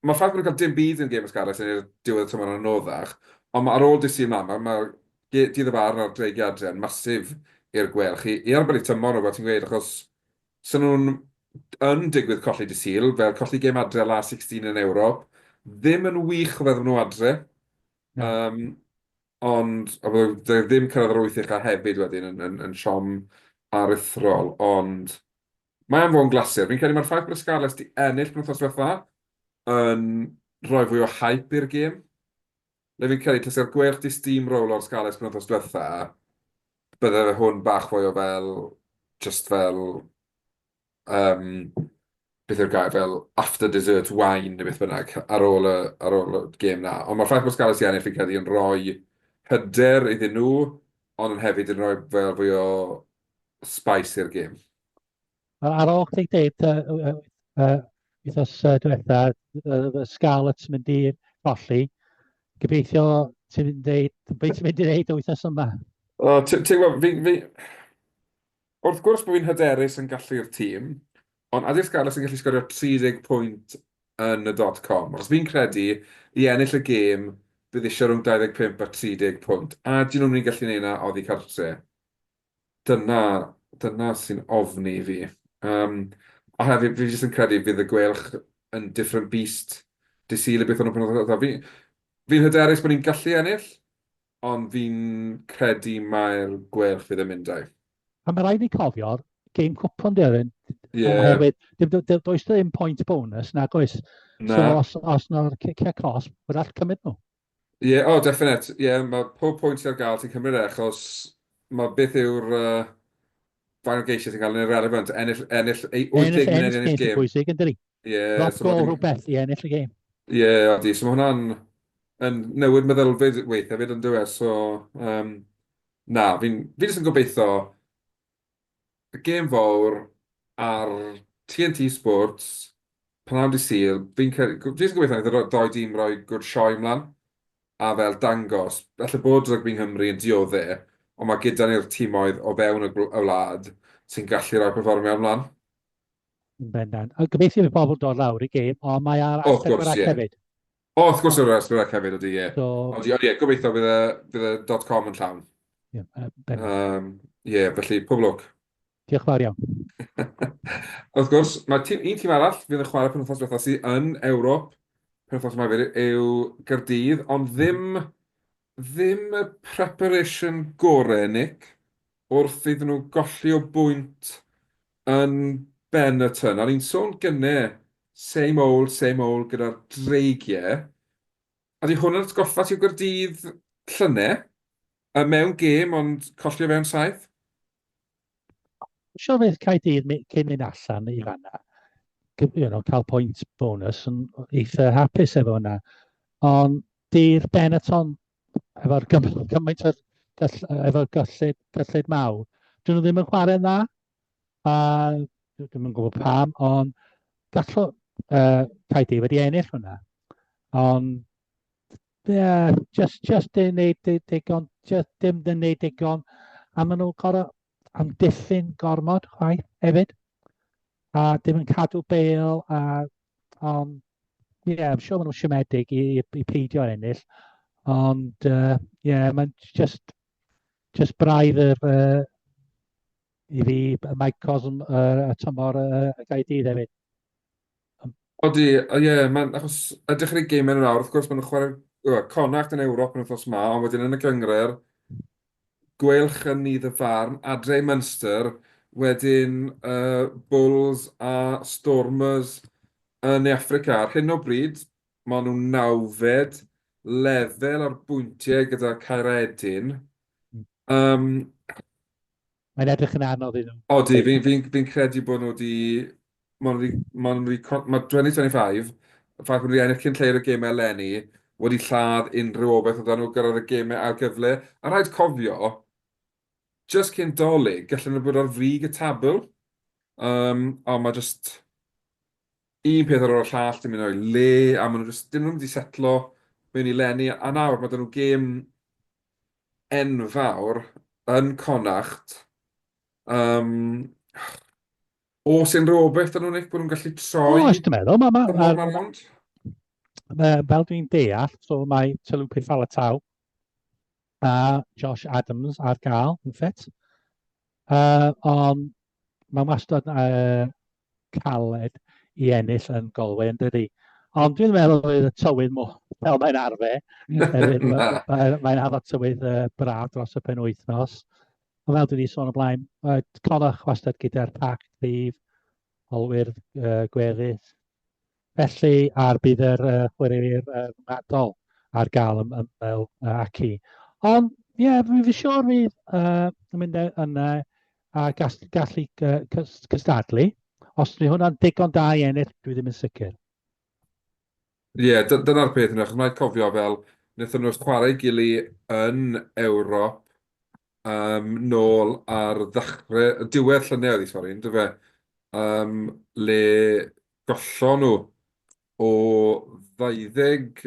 ma ffaith bod nhw'n cael dim byd yn gêm ys Gareth yn diwedd y tymor yn anoddach, ond mae ar ôl dydd Sul mlaen, mae dydd y barn a'r dreigiau adre yn massive i'r gwelch i, i arbed eu tymor nhw, fel ti'n gweud, achos sy'n nhw'n yn digwydd colli dydd Sul, fel colli gêm adre la 16 yn Ewrop, ddim yn wych o feddwl nhw adre. Um, Ond, a byddai byddai ddim cyrraedd yr wyth ucha hefyd wedyn yn yn yn siom aruthrol, ond mae am fod yn glasur. Fi'n credu mae'r ffaith bod y Scarlets 'di ennill penwythnos diwetha yn rhoi fwy o hype i'r gêm. Le fi'n credu tase'r Gweilch 'di steamrowlo'r Scarlets penwythnos diwetha, bydde fe hwn bach fwy o fel, jyst fel, yym, beth yw'r gair, fel after dessert wine neu beth bynnag, ar ôl y, ar ôl y gêm na. Ond mae'r ffaith bod Scarlets i ennill fi'n credu yn rhoi hyder iddyn nhw, ond yn hefyd yn rhoi fel fwy o spice i'r gêm. Ar ôl chdi dweud, uh, uh, wythnos uh, diwetha, uh, Scarlets mynd i golli, gobeithio ti'n mynd i dweud, beth ti'n mynd i dweud o wythnos yma? O, ti'n gwybod, fi, fi, Wrth gwrs bod fi'n hyderus yn gallu'r tîm, ond ydy'r Scarlets yn gallu sgorio 30 pwynt yn y Dotcom? Achos fi'n credu, i ennill y gêm, bydd eisiau rhwng 25 a 30 pwynt. A ydyn nhw'n mynd i gallu neud 'na oddi cartre? Dyna, dyna sy'n ofni i fi. Um, a hefyd, fi jyst yn credu fydd y gwelch yn different beast Dydd Sul i beth o'n nhw'n penodol. Fi'n fi hyderus bod ni'n gallu ennill, Ond fi'n credu mai'r Gweilch fydd yn mynd âi. A mae rhaid ni cofio'r game cwpwn di oedden. Yeah. Oherwydd, does ddim point bonus, nag oes. Na. So os, os na'r cicio cos, mae'n all cymryd nhw. Ie, yeah, o, oh, definit. Ie, yeah, mae pob pwynt ar gael ti'n cymryd e, achos mae beth yw'r uh, fain o geisiau ti'n cael yn irrelevant, ennill, ennill ei 8 gym neu ennill gym. Ennill gym bwysig yn dyri. Yeah, Last so goal rhywbeth i ennill y game. Ie, yeah, odi. So mae hwnna'n yn newid meddylfryd weith hefyd yn dweud. So, um, na, fi'n fi jyst yn gobeithio y gêm fawr ar TNT Sports pan am di syl, fi'n credu, fi'n gobeithio wnaeth y doi dîm roi gwrdd sioi ymlaen a fel dangos, felly bod rygbi yng Nghymru yn diodde, ond mae gyda ni'r tîmoedd o fewn y wlad sy'n gallu rhoi performio ymlaen. Yn bendant. A gobeithio bydd pobl dod lawr i gêm, ond mae ar Wrth gwrs, ie. hefyd. O, wrth gwrs ar Asperach hefyd, ydy, ie. So... Ond ie, gobeithio bydd y, bydd y dot com yn llawn. Ie, yeah, bendant. Um, ie, felly, pob lwc. Diolch fawr iawn. Wrth gwrs, mae tîm, un tîm arall fydd yn chwarae penwthnos diwethaf sydd yn Ewrop penwthnos yma hefyd yw Gyrdydd, ond ddim, ddim y preparation gore, Nick. wrth iddyn nhw golli o bwynt yn ben y tân. A o'n i'n sôn gynne, same old, same old gyda'r dreigie. A di hwn yn atgoffa ti o Gaerdydd llyne, y mewn gêm ond colli o fewn saith? Sio beth Caerdydd cyn mynd allan i fanna, you know, cael pwynt bonus yn eitha hapus efo hwnna. Ond di'r Benetton efo'r cymaint o'r gall, efo'r gyllid, gyllid mawr. Dyn nhw ddim yn chwarae'n dda, a dwi'n yn gwybod pam, ond gallo uh, Caedi wedi ennill hwnna. Ond, ie, yeah, just, just yn neud digon, just dim yn neud digon, a maen nhw'n gorau amddiffyn gormod chwaith hefyd. A dim yn cadw bel a ond ie, yeah, I'm sure maen nhw'n siomedig i, i, i peidio ennill. Ond ie, uh, yeah, mae'n just, just braidd yr, uh, i fi, y microcosm uh, y tymor uh, y gael dydd hefyd. Odi, o ie, mae'n achos ydych chi'n ei gymau yn yr awr, wrth gwrs maen nhw'n chwarae yy, Connacht yn Ewrop yn wythnos ma, ond wedyn yn y gyngred, gweilch yn ni ddy farn, adre i Munster, wedyn uh, Bulls a Stormers yn Ne Affrica. Ar hyn o bryd, maen nhw'n nawfed lefel ar bwyntiau gyda Caeredin. Um, Mae'n edrych yn anodd i nhw. Odi, fi'n fi, fi, fi credu bod nhw wedi... Maen nhw wedi... Mae 2025, y ffaith bod nhw wedi ennill cyn lleied o gemau eleni, wedi lladd unrhyw obaith oedd nhw gyrraedd y gemau ar gyfle. A rhaid cofio, jyst cyn Dolig, gallen nhw bod ar frig y tabl. Um, o, mae jyst un peth ar ôl y llall, dim yn o'i le, a maen nhw jyst, dim nhw'n mynd i setlo mewn i lenni, a nawr mae dyn nhw gêm enfawr yn Connacht, yym, os unrhyw obeth yn unig bod nhw'n gallu troi... O, ysdyn meddwl, mae... mae, mae, mae, mae, mae fel dwi'n deall, so mae Talupe Falatau a Josh Adams ar gael yn ffit. Uh, ond mae'n wastad uh, caled i ennill yn Galway yn dydy. Ond dwi'n meddwl oedd y tywydd mwy, fel mae'n arfer. mae'n addo tywydd uh, braf dros y pen wythnos. Ond fel dwi wedi sôn o blaen, uh, colwch wastad gyda'r pac ddydd, olwyr uh, gweddill. Felly, ar bydd yr uh, chwaraewyr uh, rhyngwladol ar gael ym ymwneud uh, ac i. Ond, ie, yeah, fi'n fi siŵr fydd uh, yn mynd e- yna a gall, gallu uh, cystadlu. Os ni hwnna'n digon da i ennill, dwi ddim yn sicr. Ie, yeah, dyna'r peth yna, chos mae'n cofio fel, wnaethon nhw'r chwarae gili yn Ewrop um, nôl ar ddechrau, diwedd llynedd i sori, ynddo fe, um, le Gollon nhw o 20,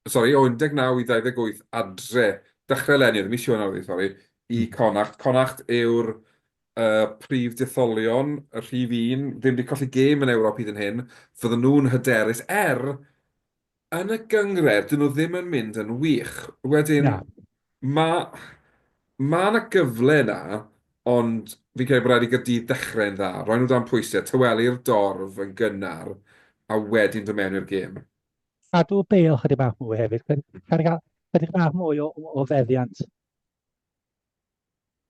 sori, o 19 i 28 adre, dechrau eleni, oedd e mis Ionawr oedd hi, sori, i Connacht. Connacht yw'r uh, prif detholion, y rhif un, ddim wedi colli gêm yn Ewrop hyd yn hyn, fydden nhw'n hyderus er Yn y gynghrair, dyn nhw ddim yn mynd yn wych. Wedyn, Na. mae ma yna gyfle yna, ond fi'n credu bod rhaid i Gaerdydd ddechrau'n dda. Rhaid nhw dan pwysau, tawelu'r dorf yn gynnar, a wedyn dod mewn i'r gêm. Cadw bel chydig bach mwy hefyd, chydig bach mwy o, o, o feddiant.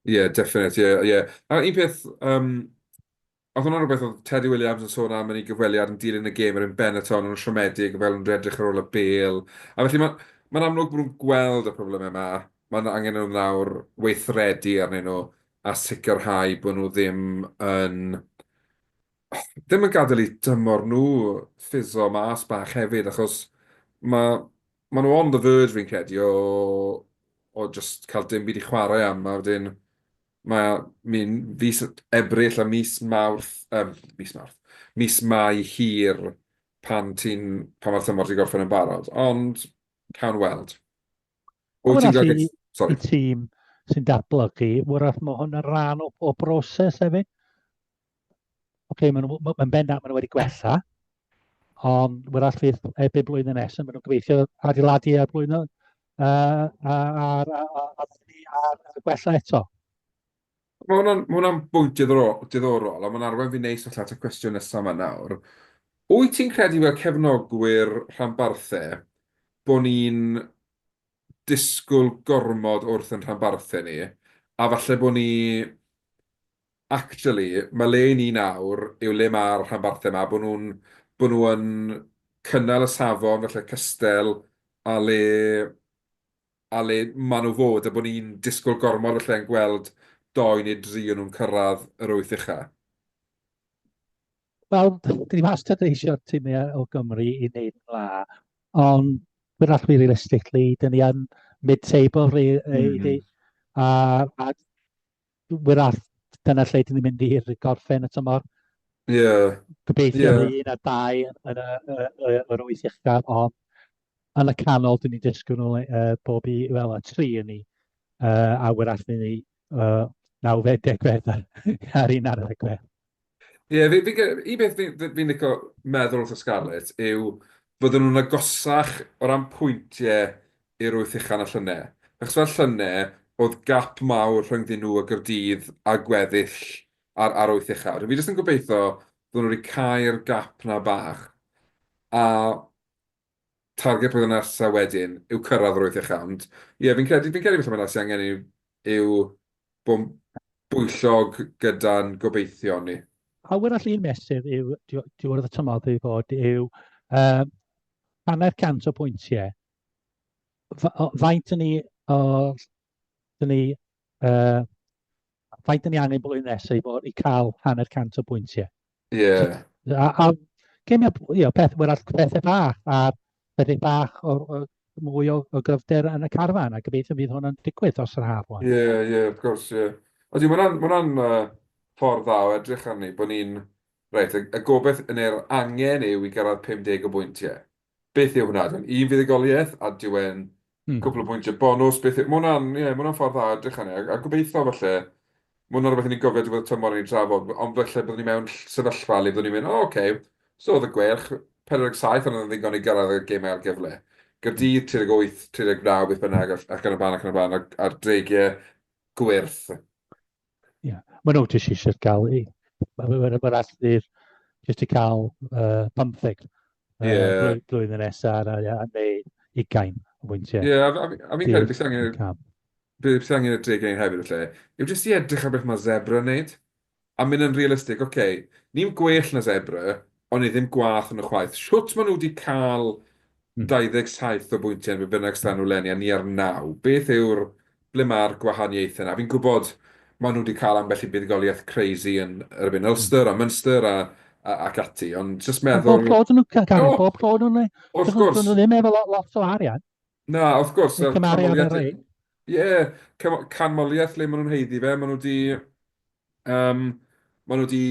Ie, yeah, definite, ie, yeah, ie. Yeah. A un peth, um, Oedd hwnna'n rhywbeth oedd Teddy Williams yn sôn am yn ei gyfweliad yn dilyn y gêm ar yn Benetton yn siomedig fel yn redrych ar ôl y bel. A felly mae'n ma amlwg bod nhw'n gweld y problemau yma. Mae'n angen nhw nawr weithredu arnyn nhw a sicrhau bod nhw ddim yn ddim yn gadael i dymor nhw ffiso mas bach hefyd achos mae, mae nhw on the verge fi'n credu o, o just cael dim byd i chwarae am a wedyn mae o, mi'n fis Ebrill a mis Mawrth, yym, mis Mawrth, mis Mai hir pan ti'n, pan mae'r tymor ti'n gorffen yn barod, ond cawn weld. Wyt ti'n gael... Sorry. tîm sy'n datblygu, wrach mae hwn yn rhan o, o broses hefyd? okay, mae'n ma, ma bendant maen nhw wedi gwella, ond wrth all fydd erbyn blwyddyn nesaf, maen nhw'n gobeithio adeiladu ar blwyddyn uh, ar, ar, gwella eto. Mae hwnna'n hwnna bwynt diddorol, a mae'n arwain fi neis allan at y cwestiwn nesaf yma nawr. Wyt ti'n credu fel cefnogwyr rhanbarthe bod ni'n disgwyl gormod wrth yn rhanbarthe ni, a falle bod ni Actually, mae le i ni nawr yw le mae'r rhanbarthau yma, bod nhw'n, bod nhw yn cynnal y safon falle cystel a le, a le maen nhw fod, a bod ni'n disgwyl gormod falle yn gweld dou neu dri o nhw'n cyrraedd yr wyth ucha. Wel, dwi wastad yn eisiau timau o Gymru i wneud yn dda, ond we're not really realistically, dyn ni yn mid-table really, mm. a, a wrach dyna lle dyn ni'n mynd i'r gorffen y tymor. Ie. Yeah. Gobeithio yeah. un a dau yn y, y, y, yr wyth uchaf, ond yn y canol dyn ni'n disgwyl nhw uh, bob i, wel, y tri yn ni, uh, a wrach dyn ni uh, nawfed degfed ar un arall y gwedd. Ie, fi, fi, un beth fi'n fi, fi licio meddwl wrth y Scarlets yw fydden nhw'n agosach o ran pwyntiau i'r wyth uchan a llynau. Achos fel llynau, oedd gap mawr rhyngddyn nhw a Gyrdydd a gweddill ar, ar wyth uchaf. Dwi jyst yn gobeithio fydden nhw wedi cau'r gap na bach. A target blwyddyn nesa wedyn yw cyrraedd yr wyth chant. Ie, fi'n credu, fi'n credu falle mae 'na sydd angen yw, yw bod yn bwyllog gyda'n gobeithion ni. A arall un mesur yw, diwrnod y tymor i fod, yw uh, hanner cant o bwyntiau. Faint yn ni, o, dyn ni, uh, A faint ni angen blwyddyn nesaf i, fod, i cael hanner cant o bwyntiau. Ie. Yeah. A, a gemiau, you know, peth, well, pethau bach, a pethau bach o, o mwy o, o gryfder yn y carfan, a gobeithio bydd hwnna'n digwydd os yr haf wan. Ie, yeah, ie, yeah, wrth gwrs, ie. Yeah. Ydy, mae hwnna'n ma hwnna uh, ffordd dda o edrych arni, bod ni'n, reit, y, y gobeith yn yr angen yw i gyrraedd 50 o bwyntiau. Beth yw hwnna? Dim un fuddugoliaeth a dyw e'n cwpl o bwyntiau bonws. Beth yw... Mae hwnna'n, ie, mae hwnna'n ffordd dda o edrych arni a a gobeithio falle, mae hwnna'n rhywbeth i ni'n gofio diwedd y tymor i ni'n trafod, ond falle byddwn ni mewn ll- sefyllfa le byddwn ni'n mynd, "O ocê, so oedd y Gweilch, 47 ond oedd e'n ddigon i gyrraedd y gêm ail gyfle. Gaerdydd, 38, 39, beth bynnag, ac ac yn y blaen ac yn y blaen, a'r a'r dreigiau gwyrth. Ie, maen nhw jyst eisiau cael ei... Mae'r ma alltu'r jyst i cael uh, pymtheg uh, yeah. blwyddyn nesaf a, a neu ugain o bwyntiau. Ie, yeah, a fi'n credu beth angen... Beth angen y deg ein hefyd y lle. Yw jyst i edrych ar beth mae zebra yn neud. A mynd yn realistig, oce, okay, ni'n gwell na zebra, O'n i ddim gwaeth yn y chwaith. Shwt maen nhw wedi cael 27 o bwyntiau yn be bynnag stan nhw leni a ni ar naw? Beth yw'r... ble mae'r gwahaniaethau 'na? Fi'n gwybod maen nhw wedi cael ambell i fuddugoliaeth crazy yn erbyn Ulster a Munster a a ac ati, ond jyst meddwl... Bob clod yn nhw, Gary, oh, bob clod yn nhw. Wrth gwrs. Dyn nhw ddim efo lot, lot o arian. Na, wrth gwrs. Yn cymaru ar yr ein. Ie, yeah, canmoliaeth le maen nhw'n heiddi fe, maen nhw wedi... Um, maen nhw wedi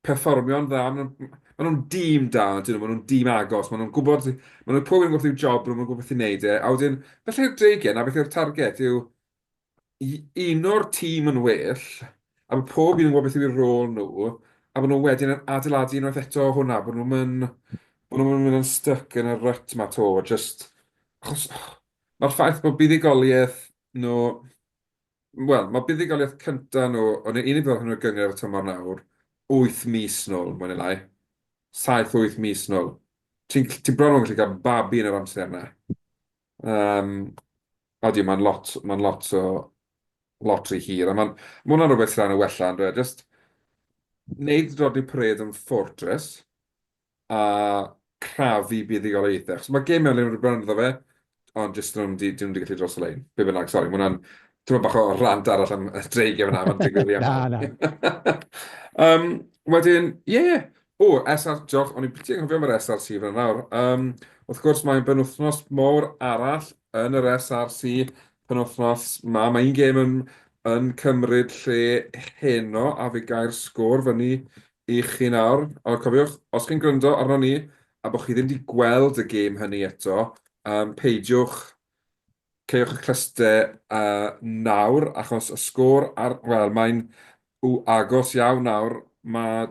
perfformio'n dda. Maen nhw, maen nhw'n dîm da, dyn nhw, maen nhw'n dîm agos, maen nhw'n gwybod, maen nhw'n pob yn gwybod i'w job, maen nhw'n gwybod beth i'n neud e, a wedyn, felly yw'r dreigiau yna, beth yw'r target yw i uno'r tîm yn well, a mae pob un yn gwybod beth yw'r rôl nhw, a maen nhw wedyn yn adeiladu unwaith eto hwnna, bod nhw'n mynd, bod nhw'n mynd yn stuck yn y rut ma to, just, achos, mae'r ffaith bod buddugoliaeth nhw, Wel, mae buddugoliaeth cyntaf nhw, o'n i'n unig fel hwnnw gyngor y tymor nawr, wyth mis nôl, mwy neu lai. Saith, wyth mis nôl. Ti'n gallu, ti'n bron yn gallu cael babi yn yr amser yna. Um, odi, mae'n lot, mae'n lot o, lot rhy hir. A mae'n, mae hwnna'n rhywbeth sy'n rhan o wella, yn dweud, just wneud rodni parade yn Fortress, a crafu buddugoliaethau. Achos mae gemau le ma' rhywbeth ynddo fe, ond jyst nhw'm 'di, 'dyn nhw'm 'di gallu dros y lein. Be bynnag, sori, ma' hwnna'n tipyn bach o rant arall am y dreigiau fan'na, ma'n digwydd rhy aml. Na, na. Yym, wedyn, ie! O, SR, diolch, o'n i'n ffiti anghofio am yr SRC fan'na nawr. Yym, wrth gwrs, mae'n benwythnos mowr arall yn yr SRC, penwythnos 'ma. Mae un gêm yn cymryd lle heno, a fe gau'r sgôr fyny i chi nawr, ond cofiwch, os chi'n gwrando arnon ni a bod chi ddim 'di gweld y gêm hynny eto, yym, peidiwch, caewch y clyste yy nawr, achos y sgôr ar, wel, mae'n w, agos iawn nawr, mae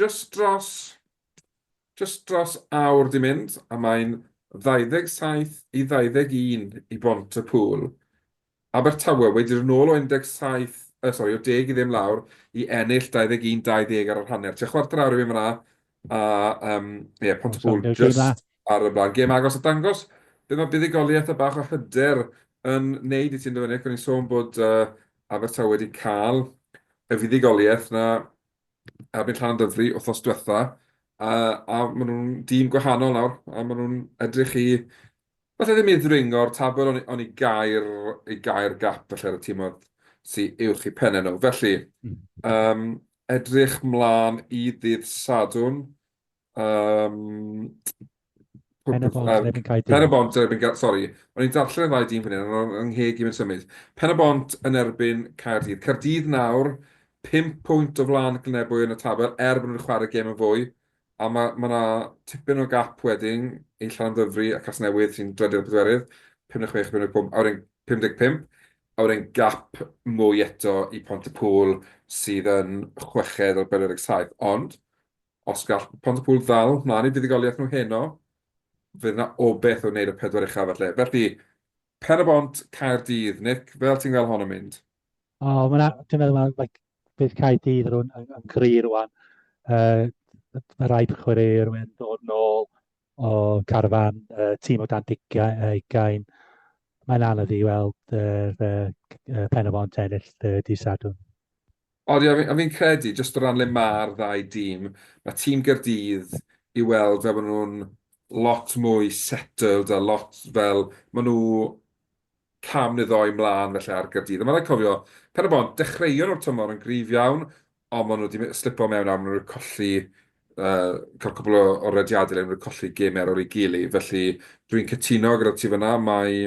jyst dros, jyst dros awr 'di mynd, a mae'n 27 i 21 i Bont-y-pŵl, Abertawe wedi dod yn ôl o 17, yy sori, o 10 i ddim lawr i ennill 21, 20 ar yr hanner. Tua chwarter awr i fynd fan'na a yym ie Pontypool jyst ar y blaen. Gêm agos a dangos be mae buddugoliaeth a bach o hyder yn neud i ti yndyfe Nick? O'n i'n sôn bod yy Abertawe wedi cael y fuddugoliaeth 'na erbyn Llanymddyfri wthnos dwetha a a ma' nhw'n dîm gwahanol nawr a ma' nhw'n edrych i Falle ddim i ddringo'r tabl ond i gau'r, i gau'r gap falle ar y tîmoedd sy uwch i pennau nhw. Felly, um, edrych mlaen i ddydd Sadwn. Um, Pen y bont yn erbyn cael Pen y bont yn erbyn cael... Sori, o'n i'n darllen y ddau dîm fan hyn, ond yng ngheg i mynd symud. Pen y bont yn erbyn Caerdydd. Caerdydd nawr, 5 pwynt o flan Glynebwy yn y tabl, er bod nhw'n chwarae gêm yn fwy. A ma' ma' 'na tipyn o gap wedyn i Llanymddyfri a Casnewydd sy'n drydydd a pedwerydd, 56 a 55, a wedyn 55, a wedyn gap mwy eto i Pont-y-pŵl sydd yn chweched ar 47. Ond, os gall Pont-y-pŵl ddal 'mlan i fuddugoliaeth nhw heno, fydd 'na obaith o wneud y pedwar ucha falle. Felly, Pen-y-bont, Caerdydd. Nick, fel ti'n gweld hon yn mynd? O, oh, mae'n... Dwi'n meddwl mae'n... Like, bydd Caerdydd yn, yn, yn gri rwan. Uh, mae rai chwaraewyr yn dod nôl o carfan uh, tîm o dan digiau uh, ugain. Mae'n anodd i weld uh, uh, pen y bont ennill uh, di sadwn. Odi, a fi'n credu, jyst o ran le ma'r ddau dîm, mae tîm Gaerdydd i weld fel bod nhw'n lot mwy settled a lot fel, maen nhw cam neu ddoe mlaen falle ar Gaerdydd. A mae'n rhaid cofio, Pen-y-bont, dechreuon nhw'r tymor yn gryf iawn, ond maen nhw wedi slipo mewn nawr, maen nhw wedi colli, cael cwpl o rediadau eleni, maen nhw wedi colli gemau ar ôl ei gilydd. Felly, dwi'n cytuno gyda ti fan'na, mae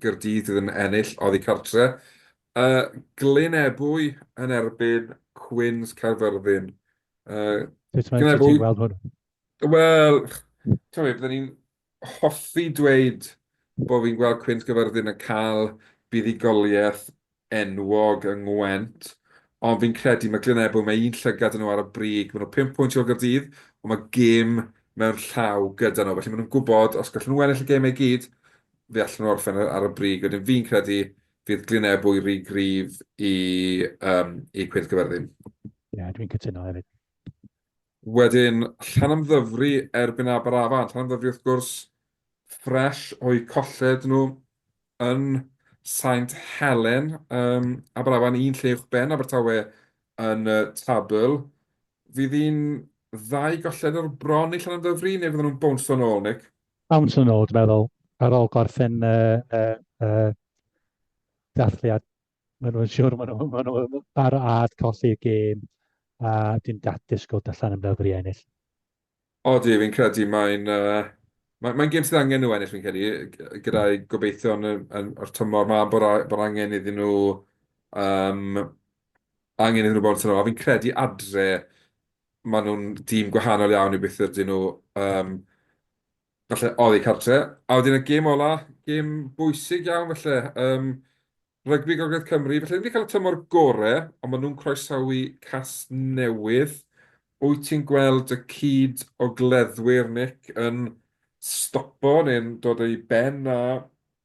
Gaerdydd fydd yn ennill oddi cartre'. Y Glyn Ebwy yn erbyn Cwins Caerfyrddin. Uh, Sut mae ti'n gweld hwn? Wel, ti'n meddwl, byddwn ni'n hoffi dweud bod fi'n gweld Cwins Caerfyrddin yn cael buddugoliaeth enwog yng Ngwent, ond fi'n credu mae Glyn Ebwy, mae un llygad yn nhw ar y brig, maen nhw 5 pwynt o'r Gyrdydd, ond mae gym mewn llaw gyda nhw. Felly maen nhw'n gwybod, os gallen nhw ennill y gêm ei gyd, fe allan nhw orffen ar y brig. Wedyn fi'n credu Fydd Glynne fwy rhy gryf i, um, i Cwynth Gyferddin? Ie, yeah, dwi'n cytuno hefyd. Wedyn, Llanymddyfri erbyn Aberafan. Llanymddyfri, wrth gwrs, ffres o'i colled nhw yn Saint Helen. Um, Aberafan un lle uwch ben Abertawe yn y tabl. Fydd hi'n ddau golled o'r bron i Llanymddyfri neu fydden nhw'n bwnso'n ôl, Nick? Am swn nôl, dwi'n meddwl, ar ôl gorffen y y y dathliad, maen nhw'n siŵr maen nhw maen nhw ar ad colli y gêm, a dwi'n da- disgwyl darllen am Ddyfri ennill. O dwi, fi'n credu mae'n yy mae mae'n gêm sydd angen nhw ennill fi'n credu, g- gyda'i gobeithio yn y yn o'r tymor ma bod a- bod angen iddyn nhw yym angen iddyn nhw bod yn tymor, a fi'n credu adre maen nhw'n dîm gwahanol iawn i beth ydyn nhw um, falle oddi cartre. A wedyn y gêm ola, gêm bwysig iawn falle. Um, Rygbi Gogledd Cymru, felly wedi cael y tymor gore, ond maen nhw'n croesawu cas newydd. Wyt ti'n gweld y cyd o gleddwyr, Nick, yn stopo neu'n dod o'i ben a,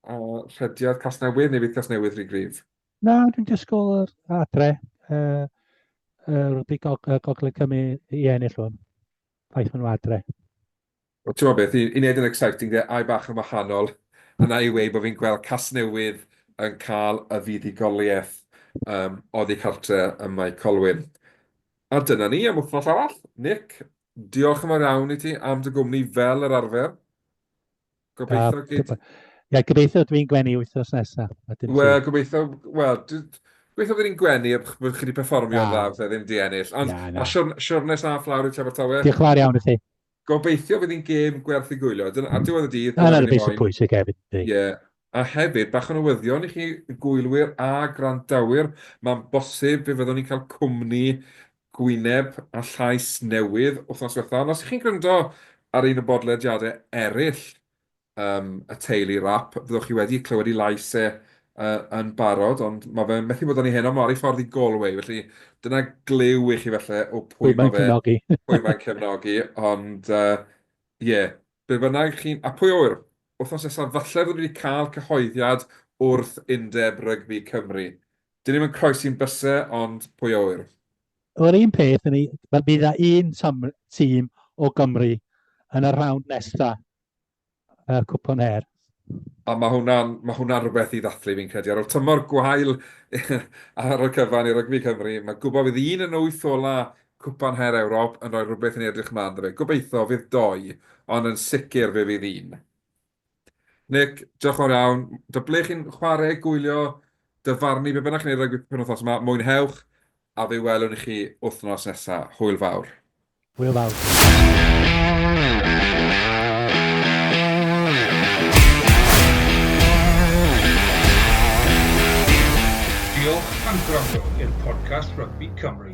a rhediad cas newydd neu fydd cas newydd rhy grif? Na, dwi'n disgwyl yr adre yy yy rygbi gog- yy Gogledd Cymru i i ennill hwn. Ffaith ma' nhw adre. Wel t'mod beth i i neud yn exciting de, ai bach yn wahanol yna i weud bo' fi'n gweld Casnewydd yn ca'l y fuddugolieth yym oddi cartre ym Mae Colwyn. A dyna ni am wthnos arall. Nick, diolch yn fawr iawn i ti am dy gwmni fel yr arfer. Gobeithio uh, gyd... Ie, gobeithio dwi'n gwenu wythnos nesaf. Wel, gobeithio, wel, gobeithio bod ni'n gwenu a bod chi wedi performio yn dda, fe ddim di ennill. Ond, yeah, no. a siwrnes a fflawr i Trevor Tower. Diolch fawr iawn i chi. Gobeithio bydd hi'n gêm gwerth i gwylio. Dyna, a diwedd y dydd... Dyna'r y beth pwysig hefyd. Ie. Yeah. A hefyd, bach o newyddion i chi gwylwyr a gwrandawyr, mae'n bosib fe fyddwn ni'n cael cwmni gwyneb a llais newydd wythnos ddiwetha', ond os y'ch chi'n gwryndo ar un o bodlediade eryll yym y Teulu Rap, fyddwch chi wedi clywed 'i lais e yy yn barod, ond ma' fe methu bod yn ei heno, ma' ar ei ffordd i Galway, felly dyna glyw i chi falle o pwy ma' fe, pwy mae'n cefnogi, ond yy ie, be' bynnag chi'n, a pwy a ŵyr, wythnos nesa falle fyddwn ni 'di ca'l cyhoeddiad wrth Undeb Rygbi Cymru, Dyn ni'm yn croesi'n byse, ond pwy a ŵyr? Yr un peth i ni, fel bydd a un tymr, tîm o Gymru yn y rhawnd nesa y Cwpan Her. A ma hwnna'n, ma hwnna'n rhywbeth i ddathlu fi'n credu. Ar ol tymor gwael ar y cyfan i rygbi Cymru, ma gwbo fydd un yn y wyth ola Cwpan Her Ewrop yn rhoi rhywbeth i ni edrych mlan 'da fe. Gobeitho fydd doi, ond yn sicr fe fydd un. Nick, diolch yn fawr iawn. Da ble chi'n chwarae, gwylio, dyfarnu, be bynnag chi'n ei rygbi penwythnos yma, mwynhewch, a fe welwn i chi wythnos nesaf. Hwyl fawr. Hwyl fawr. Diolch am gwrando i'r podcast Rugby Cymru.